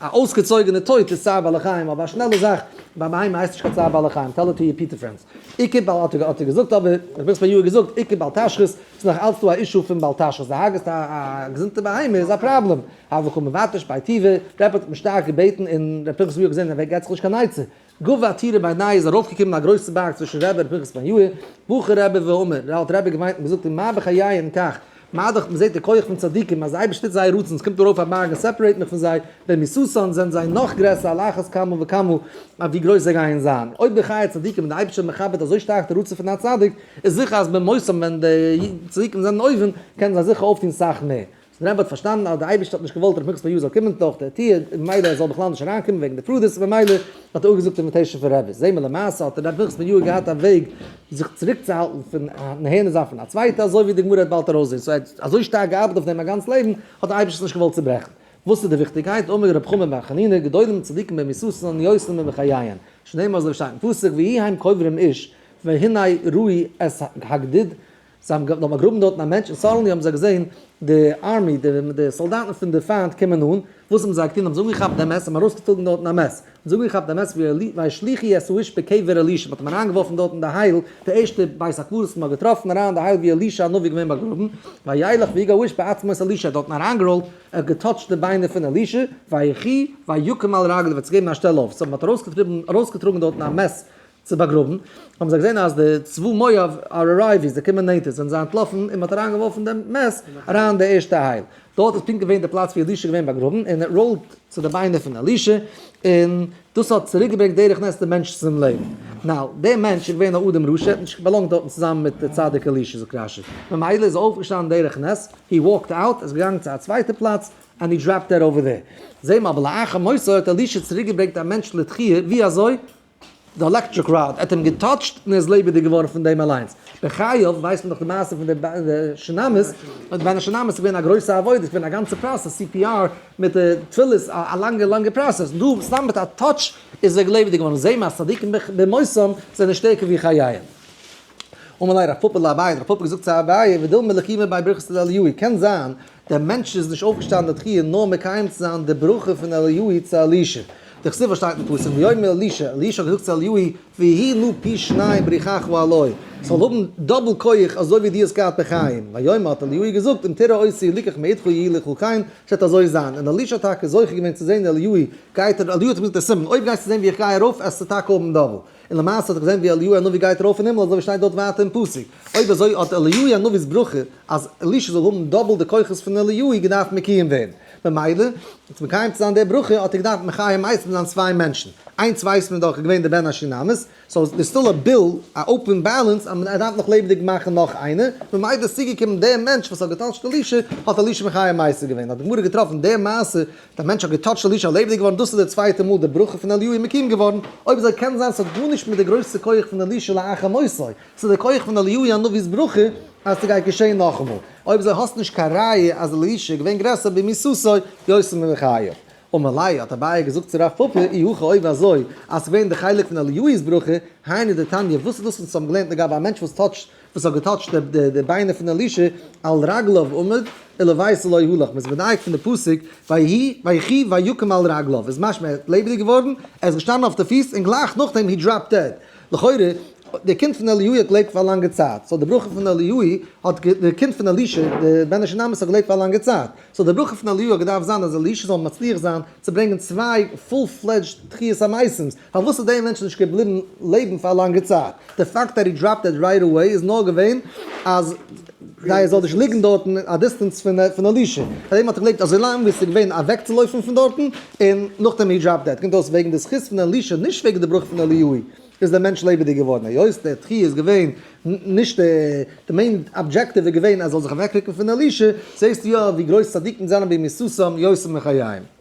S1: א אויסגעצויגענע טויט איז צער בעלי חיים אבער א שנעלע זאך ביי בהמה הייסט נישט קיין צער בעלי חיים טעל איט טו יור פיטע פרענדס. עיקר בעל האט ער געזאגט אבער איך בין עס פאר יאהר געזאגט עיקר בעל תשחית ס'איז נאך אלץ דא א אישו פון בעל תשחית די הרג'סט א געזונטע בהמה איז א פראבלעם. הוו ח מבטש ביי טיווע רעפערט האט מיר שטארק געבעטן און ר' פנחס ווי האט געזעהן אז ער געט זיך נישט קיין עצה גאב ד עתירה ביי ניי איז ארויפגעקומען א גרויסע בארג צווישן רבי ר' פנחס בן יאיר, בוכער רבי ואומר, ר' אלטער רבי געוויינט און געזאגט אים מה בחיי אין כך, מה דאכט מ'זעט די כח פון צדיקים אז די אייבערשטער טוט זייער רצון ס'קומט ארויף א בארג און סעפערעיט מיך פון זיי, ברמיסות'ן זענען זיי נאך גרעסער על אחת כמה וכמה אויף ווי גרויס זיי גייען זיין, אויב בחיי הצדיקים ווען די אייבערשטער מכבד אזוי שטארק די רצון פון א צדיק, איז זיכער אז במות'ן ווען די צדיקים זענען אויבן קענען זיי זיכער אויפטון סאך מער. דער רבי האט פארשטאנען אז דער אייבערשטער האט נישט געוואלט ר' פנחס'לע יו זאל קומען דורך די טיר, און ממילא ער זאל בכלל נישט אריין קומען וועגן די פרדות, און ממילא האט ער אפגעזאגט די אינוויטעישן פון רבי'ס, זעהן מיר למעשה האט ר' פנחס'לע יו ט געהאט א וועג זיך צוריק צו האלטן פון נהנה זיין פון א צווייטע, אזוי ווי די גמרא וועט באלד ארויסזעהן, סאו ער האט אזוי שטארק געארבעט אויף דעם א גאנץ לעבן, האט דער אייבערשטער עס נישט געוואלט צוברעכן. וואס איז די וויכטיגקייט? אמר ר' חמי בר חנינא, גדולים וצדיקים במסותן און יועצים במחיין, שנאמר אזוי ווי שטייט אין פסוק ויהי האם קוברים איש והנה רואי את הגדוד, זיי האבן געוואלט באגראבן דארטן א מענטש, און סאדענלי האבן זיי געזען די ארמי, די סאלדאטן פון די פיינט קומען אן, וואס האבן זיי געטון? האבן זיי אנגעכאפט דעם מעסער, האבן ארויסגעצויגן דארטן א מעסער, האבן זיי אנגעכאפט דעם מעסער ווי א שליחי עס ווישט בקבר אלישע, מ'האט אים אריינגעווארפן דארט אין די הייל, די ערשטע בית הקברות וואס מ'האט געטראפן אריין אין די הייל ווי אלישע הנביא איז געווען באגראבן, וילך ווי גא ווישט בעצמות אלישע, ער האט דארטן אריינגעראלט, ער האט געטאטשט די ביינער פון אלישע, ויחי ויקום על רגליו, ער האט זיך געגעבן א שטעל אויף, סאו מ'האט ארויסגעטריבן, ארויסגעטראגן דארטן א מעסער, צו באגראבן, האבן זיי געזען אז די צבא מואב אר ארייוויס זיי קומען נענטער, זענען זיי אנטלאפן און מען האט אריין געווארפן דעם מעש אריין די ערשטע הייל, דארט איז פונקט געווען די פלאץ ווי אלישע איז געווען באגראבן און ער ראולט צו די ביינער פון אלישע, און דאס האט צוריק געברענגט דרך נס דעם מענטש צום לעבן, נאו, דער מענטש איז געווען א אדם רשע, האט נישט באלאנגט דארטן צוזאמען מיט די צדיק אלישע זאגט רש י, ממילא איז ער אויפגעשטאנען דרך נס, הי וואלקט אוט, איז געגאנגען צו א צווייטע פלאץ, ענד הי דראפד דעט אווער דער, זעהן מיר אבער לאחר מותו האט אלישע צוריק געברענגט א מענטש לתחי', ווי אזוי? די עלעקטריק ראד האט אים געטאטשט און ער איז לעבעדיג געווארן פון דעם אליינס. בחייו ווייסט מען דאך די מעשה פון די שינאמעס, און ביי די שינאמעס איז געווען א גרויסע עבודה, עס איז געווען א גאנצע פראסעס, סי פי אר מיט די תפילות, א לאנגע לאנגע פראסעס, דא סתם מיט א טאטש איז ער לעבעדיג געווארן, זעה מען אז צדיקים במותם זענען שטערקער ווי חייהם. אמר ליה רב פפא לאביי, האט רב פפא געזאגט צו אביי, ודילמא לקימא ביי ברכת הלל יואי, קען זיין, דער מענטש איז נישט אויפגעשטאנען לתחי' נאר מקיים צו זיין די ברכה פון אליהו'י צו אלישע. דער חסיד פארשטייט אין פסוק ויאמר אלישע, אלישע האט געזאגט צו אליהו'י, ויהי לו פי שניים בריחך ואלוה, ס'זאל האבן דאבל כח אזוי ווי דו האסט געהאט בחיים, ויאמר האט אליהו'י געזאגט אם תראה עושי ליקך מאידך יהי לך כן, ס'וועט אזוי זיין, און אלישע האט טאקע זוכה געווען צו זען אליהו'י גייט, אליהו האט אים געזאגט דער סימן, אויב גייסטו זען ווי איך גיי ארויף עסטו טאקע האבן דאבל. און למעשה האט ער געזען ווי אליהו הנביא גייט ארויף אין הימל אזוי ווי שטייט דארט ווייטער אין פסוק. אויב אזוי האט אליהו הנביא'ס ברכה אז אלישע זאל האבן דאבל די כוחות פון אליהו געדארפט מקויים ווערן. ממילא, אונז מקיים צו זיין די ברכה האט ער געדארפט מחיה מייסד זיין צוויי מענטשן. איינס ווייסט מען דאך איז געווען דער בן השונמית, סאו דער סטיל א ביל, א אופען בעלענס אז מען דארף נאך לעבעדיג מאכן נאך איינער, ממילא איז צוגעקומען דער מענטש וואס האט געטאטשט אלישע, האט אלישע מחיה מייסד געווען. האט די גמרא געטראפן די מעשה דער מענטש האט געטאטשט אלישע און לעבעדיג געווארן, דאס איז דער צווייטער מאל דער ברכה פון אליהו איז מקים געווארן, אויב אזוי קען זיין ס'האט גארנישט מיט די גרויסע כח פון אלישע לאחר מותו, ס'איז דער כח פון אליהו הנביא'ס ברכה אז ס'גייט געשען נאכאמאל, אויב אזוי האסטו נישט קיין ראיה אז אלישע איז געווען גרעסער במוססו יוסף מבחייו. ומילא האט אביי געזאגט צו רב פפא אי הכא אויב אזוי אז ס'איז געווען דער חלק פון אליהו'ס ברכה, היינו דתניא וואס איז דאס וואס אונז האבן געלערנט לגבי א מענטש וואס טאטשט וואס האט געטאטשט די ביינער פון אלישע, על רגליו עמד, אלא ווייס לא הלך, מ'איז מדייק פון די פסוק, ויהי, ויחי, ויקום על רגליו, איז משמע ער האט לעבעדיג געווארן, ער איז געשטאנען אויף די פיס, און גלייך נאכדעם הי דראפ דעד, לכאורה, די קינד פון אליהו'י האט געלעבט פאר א לאנגע צייט, סאו די ברכה פון אליהו'י האט, די קינד פון אלישע, די בן השונמות האט געלעבט פאר א לאנגע צייט, סאו די ברכה פון אליהו האט געדארפט זיין אז אלישע זאל מצליח זיין צו ברענגען צוויי פול פלעדזשד תחיית המתים, פארוואס איז דעי מענטש נישט געבליבן לעבן פאר א לאנגע צייט? די פאקט דעט הי דראפד דעד רייט עוועי איז נאר געווען אז זייער זאל נישט ליגן דארטן א דיסטענס פון אלישע, פאר דעם האט ער געלעבט אזוי לאנג ביז ס'איז געווען אוועקצולויפן פון דארטן און נאכדעם הי דראפד דעד, קומט אויס וועגן די זכות פון אלישע נישט וועגן די בראך פון אליהו איז דער מענטש לעבעדיג געווארן היות דער תחי' איז געווען נישט די מעין אבדזשעקטיוו איז געווען אז ער זאל זיך אוועקרוקן פון אלישע, זעסטו יא ווי גרויס צדיקים זענען בימי ששון יוסף מחיים.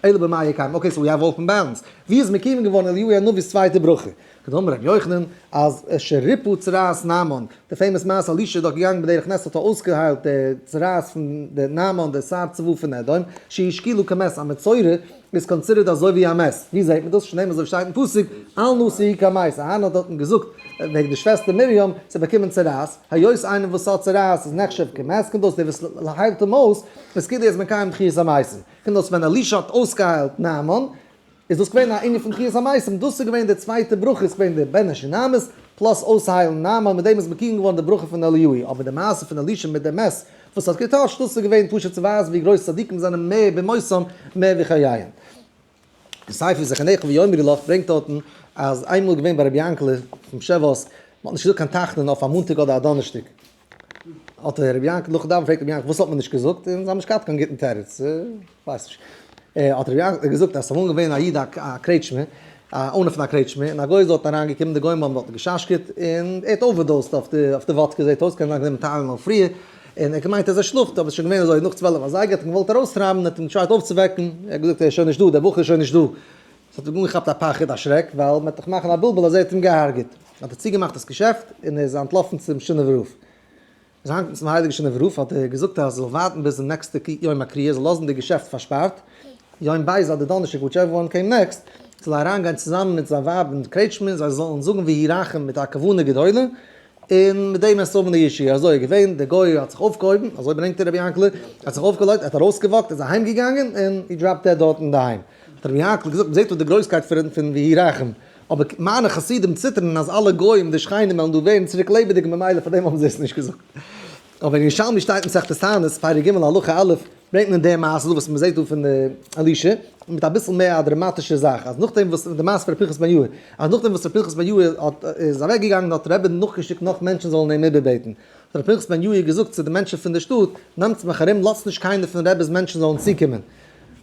S1: אלא במאי יקיים, אקעי סאו יא וואלפן בארנס, ווי איז מקוים געווארן אליהו הנביא'ס צווייטע ברכה? כדאמר ר' יוחנן אז אשר ריפא צרעת נעמן, די פעימאס מעשה אלישע איז דאך געגאנגען בדרך נס האט ער אויסגעהיילט די צרעת פון די נעמן די שר צבא פון אדום, שישקילו כמת, א מצורע איז קאנסידערט אזוי ווי א מת, ווי זעהט מען דאס? שנאמר אזוי ווי שטייט אין פסוק, אל נא שיהי' כמת, אהרן האט דארטן געזאגט וועגן די שוועסטער מרים, זי האט באקומען צרעת, היות איינער וואס האט צרעת איז נחשב כמת, קומט אויס דער וואס היילט אים אויס איז כדי ער איז מקיים תחיית המתים, קומט אויס ווען אלישע האט אויסגעהיילט נעמאן איז דאס געווען א ענין פון תחיית המתים, דאס איז געווען די צווייטע ברכה איז געווען די בן שונמית פלאס אויסהיילן נעמאן, מיט דעם איז מקויים געווארן די ברכה פון אליהוי', אבער די מעשה פון אלישע מיט די מת וואס האט געטוישט דאס איז געווען פשוט צו ווייזן ווי גרויס צדיקים זענען מער במותם מער ווי חייהם. די ספר זכר נעכי ויאמרילך ברענגט דארטן אז איינמאל איז געווען ביי רבי יענקעלע אויפן שבועות, מען האט נישט געזאגט קיין תחנון אויף א מאנטאג אדער א דאנערשטאג, האט רבי יענקעלע נאכן דאווענען געפרעגט רבי יענקעלע וואס האט מען נישט געזאגט, און זיי האבן נישט געהאט קיין גוטן תירוץ, כ'ווייס נישט, האט רבי יענקעלע געזאגט אז עס איז אמאל געווען א איד א קרעטשמע, א אונער פון א קרעטשמע, און א גוי איז דארט אריין געקומען, די גוים האבן דארט געשאשקעט, און ער האט אווערדאוזט אויף די וואדקע זעט אויס, קען זיין כדי מען טייל אים אויף פריער. און ער האט געמיינט אז ער שלאפט, אבער עס איז שוין געווען אזוי נאך צוועלף אזייגער, האט אים געוואלט ארויסטרייבן, ער האט אים געטרייט אויפצווועקן, ער האט געזאגט ער איז שוין נישט דא, דער בחור איז שוין נישט דא, עס האט אים אנגעכאפט א פחד, א שרעק, ווייל מען וועט דאך מאכן א בלבול אז ער האט אים געהארגעט, האט ער צוגעמאכט דאס געשעפט, און ער איז אנטלאפן צום שונא ורופא. ער איז אהיימגעקומען צום הייליגן שונא ורופא, האט ער געזאגט אז ער זאל ווארטן ביזן נעקסטע יום הקריאה, ער זאל לאזן די געשעפט פארשפארט, יום ב' אדער דאנערשטאג וויטשעווער וואן קעים נעקסט, זאל ער אריינגיין צוזאמען מיט זיין ווייב אין קרעטשמע, זיי זאלן זאגן ויהי רחם מיט א כוונה גדולה, און מיט דעם עס האבן די אישי אזוי איז געווען, דער גוי האט זיך אויפגעהויבן, אזוי ברענגט ער רבי יענקל, ער האט זיך אויפגעלייגט, ער האט ארויסגעוואקט, ער איז אהיים געגאנגען, און הי דראפ דעד דארט אינדערהיים. האט רבי יענקל געזאגט, מען זעט דא די גרויסקייט פון ויהי רחם, אבער מיינע חסידים ציטערן אז אלע גוים, די שכנים וועלן דא ווערן צוריק לעבעדיג ממילא פארדעם האבן זיי עס נישט געזאגט. אבער אין ירושלמי שטייט מסכת תענית פרק ג' הלכה א' ברענגט מען די מעשה דא וואס מ'זעט דא פון אלישע מיט אביסל מער א דראמאטישע זאך אז נאכדעם וואס די מעשה פון ר' פנחס בן יהוה אז נאכדעם וואס ר' פנחס בן יהוה האט איז אוועק געגאנגען האט ר' עבד נאכגעשיקט נאך מענטשן זאלן אים איבערבעטן האט ר' פנחס בן יהוה געזאגט צו די מענטשן פון די שטאט נעמטס מיך ארום לאזטס נישט קיינער פון ר' עבד'ס מענטשן זאלן צוקומען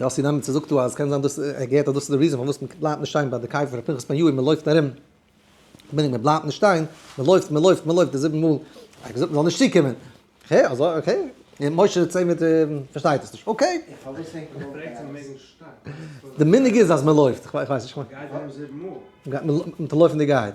S1: יאסי נעמעצער זאגט דא אז קען זיין דאס ער געהערט אז דאס איז די ריזען פארוואס מען בלייבט נישט שטיין ביי די קבר פון פנחס בן יואל מען לויפט ארום מיינען מען בלייבט נישט שטיין מען לויפט מען לויפט מען לויפט די זיבן מאל ער האט געזאגט מען זאל נישט צוקומען אקעי אזוי אקעי און משה זעצט זיך מיט פארשטייט עס נישט אקעי די מנהג איז אז מען לויפט איך ווייס נישט מען טאר לויפן די גייט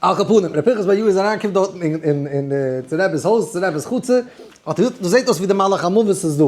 S1: על כל פנים, ר' פנחס בר יואל איז אריין קומט דארטן אין צו רב'ס הויז, צו רב'ס חצר, האט ער געזאגט, דאס זעט אויס ווי די מלאך המוות איז דא.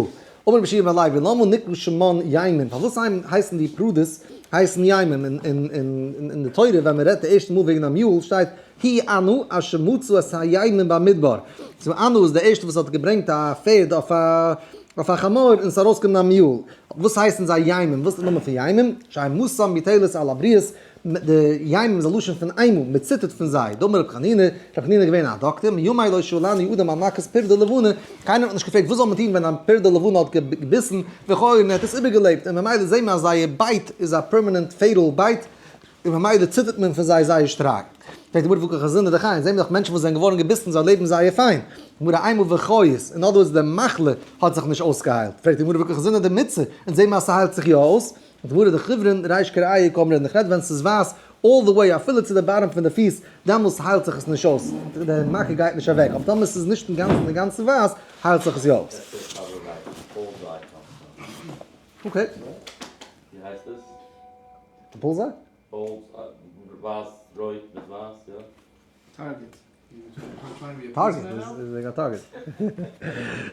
S1: אמר רבי שמעון בר לייב, ולמה נקרא שמעון ימים? פארוואס הייסן די פרדס הייסן ימים? אין די תורה ווען מען רעדט די ערשטע מאל וועגן א מיול שטייט, ה' אנו אשר מצאו את הימים במדבר. ס'איז אנו איז דער ערשטער וואס האט געברענגט א פערד אויף א חמור און ס'איז ארויסגעקומען א מיול. וואס הייסן זיי ימים? וואס איז די נאמען פון ימים? שהם מסם יתהלס על הבריות, די ימים איז א לשון פון איינמאל, מען ציטערט פון זיי, דאמר רבי חנינא, רבי חנינא איז געווען א דאקטער, מימי לא שאלן יהודים על מכת פרד או לבנה, קיינער האט נישט געפרעגט וואס זאל מען טון ווען א פרד או לבנה האט געביסן, וכו' און ער האט עס איבערגעלעבט, און ממילא זעהן מיר אז זייער בייט איז א פערמענענט פעיטעל בייט, און ממילא ציטערט מען פון זיי זייער שטארק. פרעגט די גמרא וואו קאכט זינען די חיות, זעהן מיר דאך מענטשן וואס זענען געווארן געביסן זיי לעבן זייער פיין, גמרא איינמאל וכו' איז אין אדער ווארדס די מחלה האט זיך נישט אויסגעהיילט, פרעגט די גמרא וואו קאכט זינען די מיצה, און זעהן מיר אז ס'היילט זיך יא אויס, מיט די מרא דחוברין רייש קר א יקום רעדן, איך רעד ווען ס'איז ווייס אלל די וועי אפילו צו די באטעם פון די פיס, דעמאלס היילט זיך עס נישט אויס, די מכה גייט נישט אוועק, אבער טאמער ס'איז נישט אינגאנצן אינגאנצן ווייס היילט זיך עס יא אויס. אקעי. טארגעט איז וועגן א טארגעט.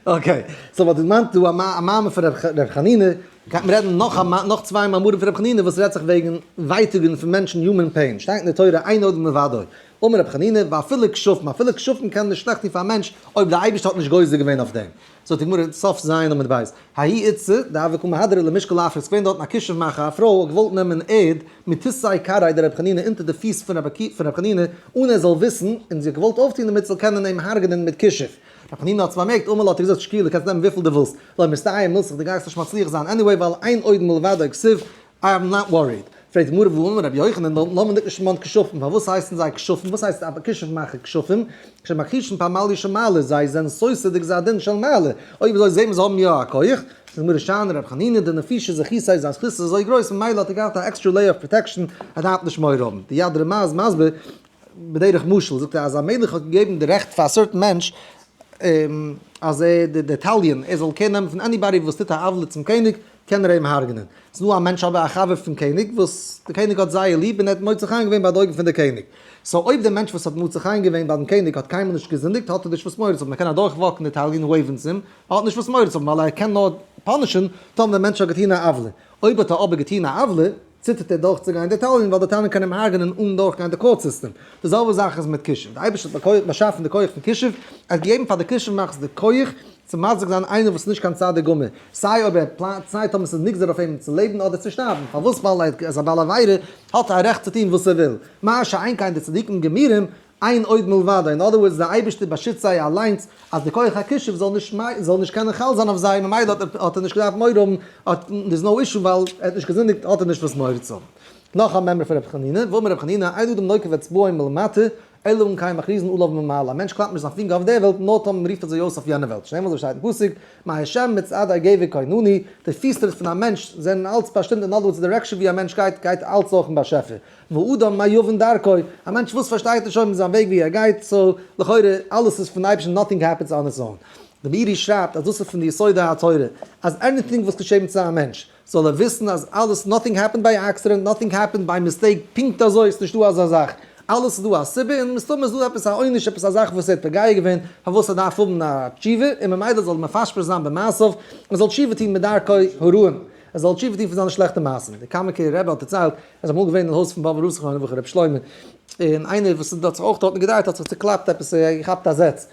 S1: אקעי, סאו וואס דו מיינסט דא א מאמר פון ר' חנינא, גייט מען רעדן נאך נאך צוויי מאמרים פון ר' חנינא וואס רעדט זיך וועגן ווייטאגן פון מענטשן יומען פעין, שטייט אין די תורה אין עוד מלבדו, אמר ר' חנינא ואפילו כשפים, אפילו כשפים קענען נישט שלעכט טון פאר א מענטש אויב דער אייבערשטער האט נישט גוזר געווען אויף דעם, זאגט די גמרא, סוף ז' עמוד ב', האי איצא דהוה קא מהדרין למשקל עפר, ס'געווען דארטן א כישוף מאכער, א פרוי האט געוואלט נעמען ערד מתיסאי קרעי דרבי חנינא אונטער די פיס פון רבי חנינא אן ער זאל וויסן, און זי האט געוואלט אויפטון דערמיט זאל קענען אים הרג'נען מיט כישוף, רבי חנינא האט עס באמערקט אמאל האט ער געזאגט שקיעלע קענסט נעמען וויפיל די ווילסט, לא מסתייע מילתך די גייסט נישט מצליח זיין עניוועי ווייל אין עוד מלבדו כסיל איי עם נאט וואריד. פרעגט די גמרא וואו אמר רבי יוחנן דארט נאמען דער כשפן כשפים פארוואס הייסן זיי כשפים וואס הייסט א כשף מאכער כשפים שמכחישין פאר מעלה יש מעלה זיי זענען סותר די גזר הדין של מעלה אוי ווי אזוי זעהט מען זיי האבן יא א כח זאגט די גמרא שאנער רבי חנינא די נפישי זכיסא איז זיין זכיסא אזוי גרויס ממילא האט ער געהאט א עקסטרע לעיער אוו פראטעקשען ער דארף נישט מורא האבן די יד רמה איז מסביר בדרך משל זאגט ער אז א מלך האט געגעבן די רעכט פאר א סערטען מענטש אז ער די די תליון ער זאל קער נעמען פון עניבאדי וואס טוט א עוולה צום קעניג קען ער אים הרג'נען. ס'איז דא א מענטש אבער א חבר פון קעניג וואס די קעניג האט זייער ליב און ער האט מוצא חן געווען ביי די אויגן פון די קעניג. סאו אויב די מענטש וואס האט מוצא חן געווען ביי דעם קעניג האט קיינמאל נישט געזינדיגט האט ער נישט וואס מורא צו האבן. ער קען אדורך וואקן די טאג און וועיוון צום ער האט נישט וואס מורא צו האבן ווייל ער קען נאר פאנישען טאמער דער מענטש האט געטון א עוולה. אויב האט ער אבער געטון א עוולה. ציטערט ער דורכצוגיין דעטאלן ווייל די טענער קענען אים הרג'נען אן דורכגיין די קאורט סיסטעם. די זעלבע זאך איז מיט כישוף. די אייבערשטער האט באקויעט באשאפן די כח פון כישוף, ער האט געגעבן פאר די כישוף מאכטס די כח צו מזיק זיין איינער וואס איז נישט קיין צדיק גמור, סיי אויב ער פלאנט סיי טאמער ס'איז נגזר אויף אים צו לעבן אדער צו שטארבן, פארוואס ווייל ער איז א בעל עבירה האט ער א רעכט צו טון וואס ער וויל? מה שאין כן די צדיקים גמורים איין עוד מלבדו, אין אדער ווארדס דער אייבערשטער באשיצט זיי אליינס אז די כח הכישוף זאל נישט זאל נישט קענען חל זיין אויף זיי ממילא האט ער נישט געדארפט מורא האבן האט דער'ס נאו אישו ווייל ער האט נישט געזינדיגט האט ער נישט וואס מורא צו האבן. נאך א מימרא פון רבי חנינא, ואמר רבי חנינא אין אדם נוקף אצבעו מלמטה אלא אם כן מכריזין עליו ממעל א מענטש קלאפט נישט זיין פינגער אויף דער וועלט נאר טאמער מ'רופט אזוי אויס אויף יענע וועלט שנעמער אזוי שטייט אין פסוק מה השם מצעד הגבר קינני די פיסטריט פון א מענטש זענען אלץ באשטימט אין אדער ווארדס די דירעקשאן ווי א מענטש גייט גייט אלץ נאכן באשעפער ואדם מה יבין דרכו, א מענטש וואס פארשטייט נישט אויבן זיין וועג ווי ער גייט, סאו לכאורה אלעס איז פון אייבערשטן נאטינג העפענס אן איטס און. די מאירי שרייבט אז דאס איז פון די יסודי התורה, אז עניטינג וואס געשעבן צו א מענטש, זאל ער וויסן אז אלעס נאטינג העפענד ביי עקסידענט, נאטינג העפענד ביי מיסטעיק, פונקט אזוי איז נישטא אזא זאך, אלעס איז דא א סיבה און מסתמא איז דא עפעס א עונש עפעס א זאך וואס ער האט פגע געווען פארוואס ער דארף האבן א תשובה און ממילא זאל ער מפשפש זיין במעשיו און זאל תשובה טון מדרכי הרעים, ער זאל תשובה טון פון זיינע שלעכטע מעשים, די קאמיקער רבי האט דערציילט איז אמאל געווען אין הויז פון באבע רוסער מיינע וואך ר' שלמה, און איינער וואס איז דארט זיך אויך דארטן געדרייט האט זיך צעקלאפט עפעס געכאפט א זעץ,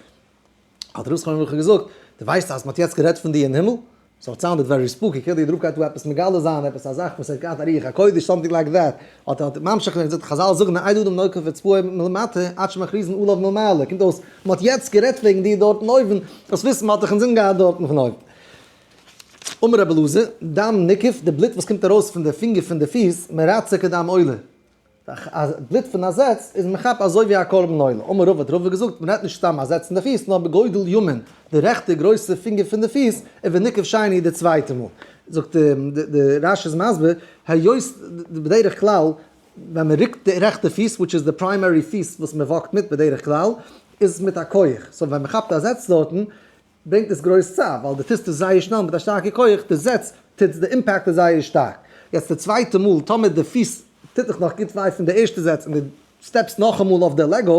S1: האט ר' שלמה מיכל געזאגט, דו ווייסט אז מען האט יעצט גערעדט פון דיר אין הימל? סאו איט סאונדעד ווערי ספוקי, כאילו דער רב גייט דא עפעס מגלה זיין עפעס א זאך וואס ער האט געהאט א רוח הקודש, סאמטינג לייק דעט, האט ער ממשיך געווען און געזאגט, חזל זאגן א עידוד ומנוקף וצפויה מלמטה עד שמכריזין עליו מלמעלה, קומט אויס מען האט יעצט גערעדט וועגן דיר דארט אין אויבן, דאס וויסן האט דאך אינזין געהאט דארטן פון אויבן. אמר רבי אלעזר, דם נקיף, די בלוט וואס קומט ארויס פון די פינגער פון די פיס, מרצה כדם עולה, א בלוט פון א זעץ איז מכפר אזוי ווי א קרבן עולה, אמר רבא האט רבא געזאגט, מען רעדט נישט סתם א זעץ אין די פיס, נאר בגודל ימין, די רעכטע גרויסע פינגער פון די פיס, און ונקיף שני די צווייטע מאל. זאגט די רש איז מסביר, היות בדרך כלל ווען מען רוקט די רעכטע פיס, וויטש איז די פריימערי פיס וואס מען וואקט מיט בדרך כלל, איז מיט א כח, סאו ווען מען כאפט א זעץ דארטן, ברענגט דאס גרויס צער ווייל די טוסט עס זייער שנעל מיט א שטארקע כח, די זעץ טוטס, די אימפעקט איז זייער שטארק. יעצט די צווייטע מאל טאמער די פיס טוט דיך נאך גוט וויי פון די ערשטע זעץ און די סטעפסט נאכאמאל אויף די לעגא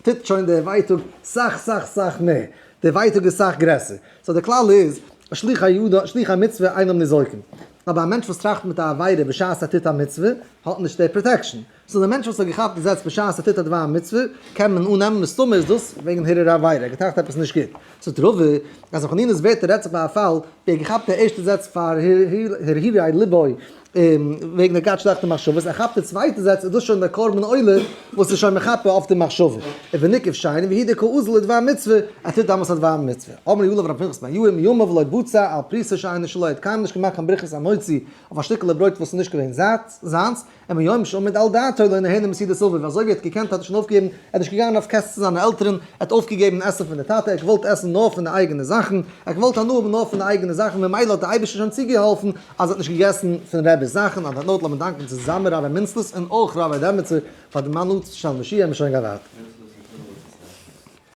S1: טוט שוין די ווייטאג סאך סאך סאך מער, די ווייטאג איז סאך גרעסער. סאו די כלל איז, שליח הידו שליח המצוה אינם ניזוקים. אבער א מענטש וואס טראכט מיט א עבירה בשעת ער טוט א מצוה האט נישט די פראטעקשן. סאו די מענטש וואס האט געכאפט די זעץ בשעת ער טוט א דבר מצוה קען מען אננעמען מסתמא איז דאס וועגן הרהור עבירה ער האט געטראכט עפעס נישט גוט, ס'איז ת ר אז אין חנינה'ס ווערטער רעדט זיך ביי א פאל ווי ער געכאפט די ערשטע זעץ פאר הרהורי לבו וועגן ער גייט שלעכטע מחשבות ער כאפט די צווייטע זעץ איז דאס שוין דער קרבן עולה וואס איז שוין מחפה אויף די מחשבה און ווי נקוב שיין והיא די קאוזל לדבר מצוה ער טוט דאמאלס א דבר מצוה אמר יואל אבער א פנחס בן יואל מימיו לא בוצע על פריסה שאינה שלו ער האט קיינמאל נישט געמאכט קיין ברכת המוציא אויף א שטיקעלע ברויט וואס איז נישט געווען זיינס. און מיום שעמד על דעתו לא נהנה מסידור סבא, ווי אזוי ווי ער האט געקענט האט ער שוין אויפגעגעבן, ער איז נישט געגאנגען אויף קעסט צו זיינע עלטערן, ער האט אויפגעגעבן עסן פון די טאטע, ער האט געוואלט עסן נאר פון די אייגענע זאכן, ער האט געוואלט הנאה האבן נאר פון די אייגענע זאכן, ממילא האט דער אייבערשטער שוין צוגעהאלפן אז ער האט נישט געגעסן פון רבי'ס זאכן, אויף דעם נאוט לאמיר דאנקען צוזאמען רבי מינצלס און אויך רבי דעמעצער פאר דעם אנאנסד של משיח, מ'שוין געווארט.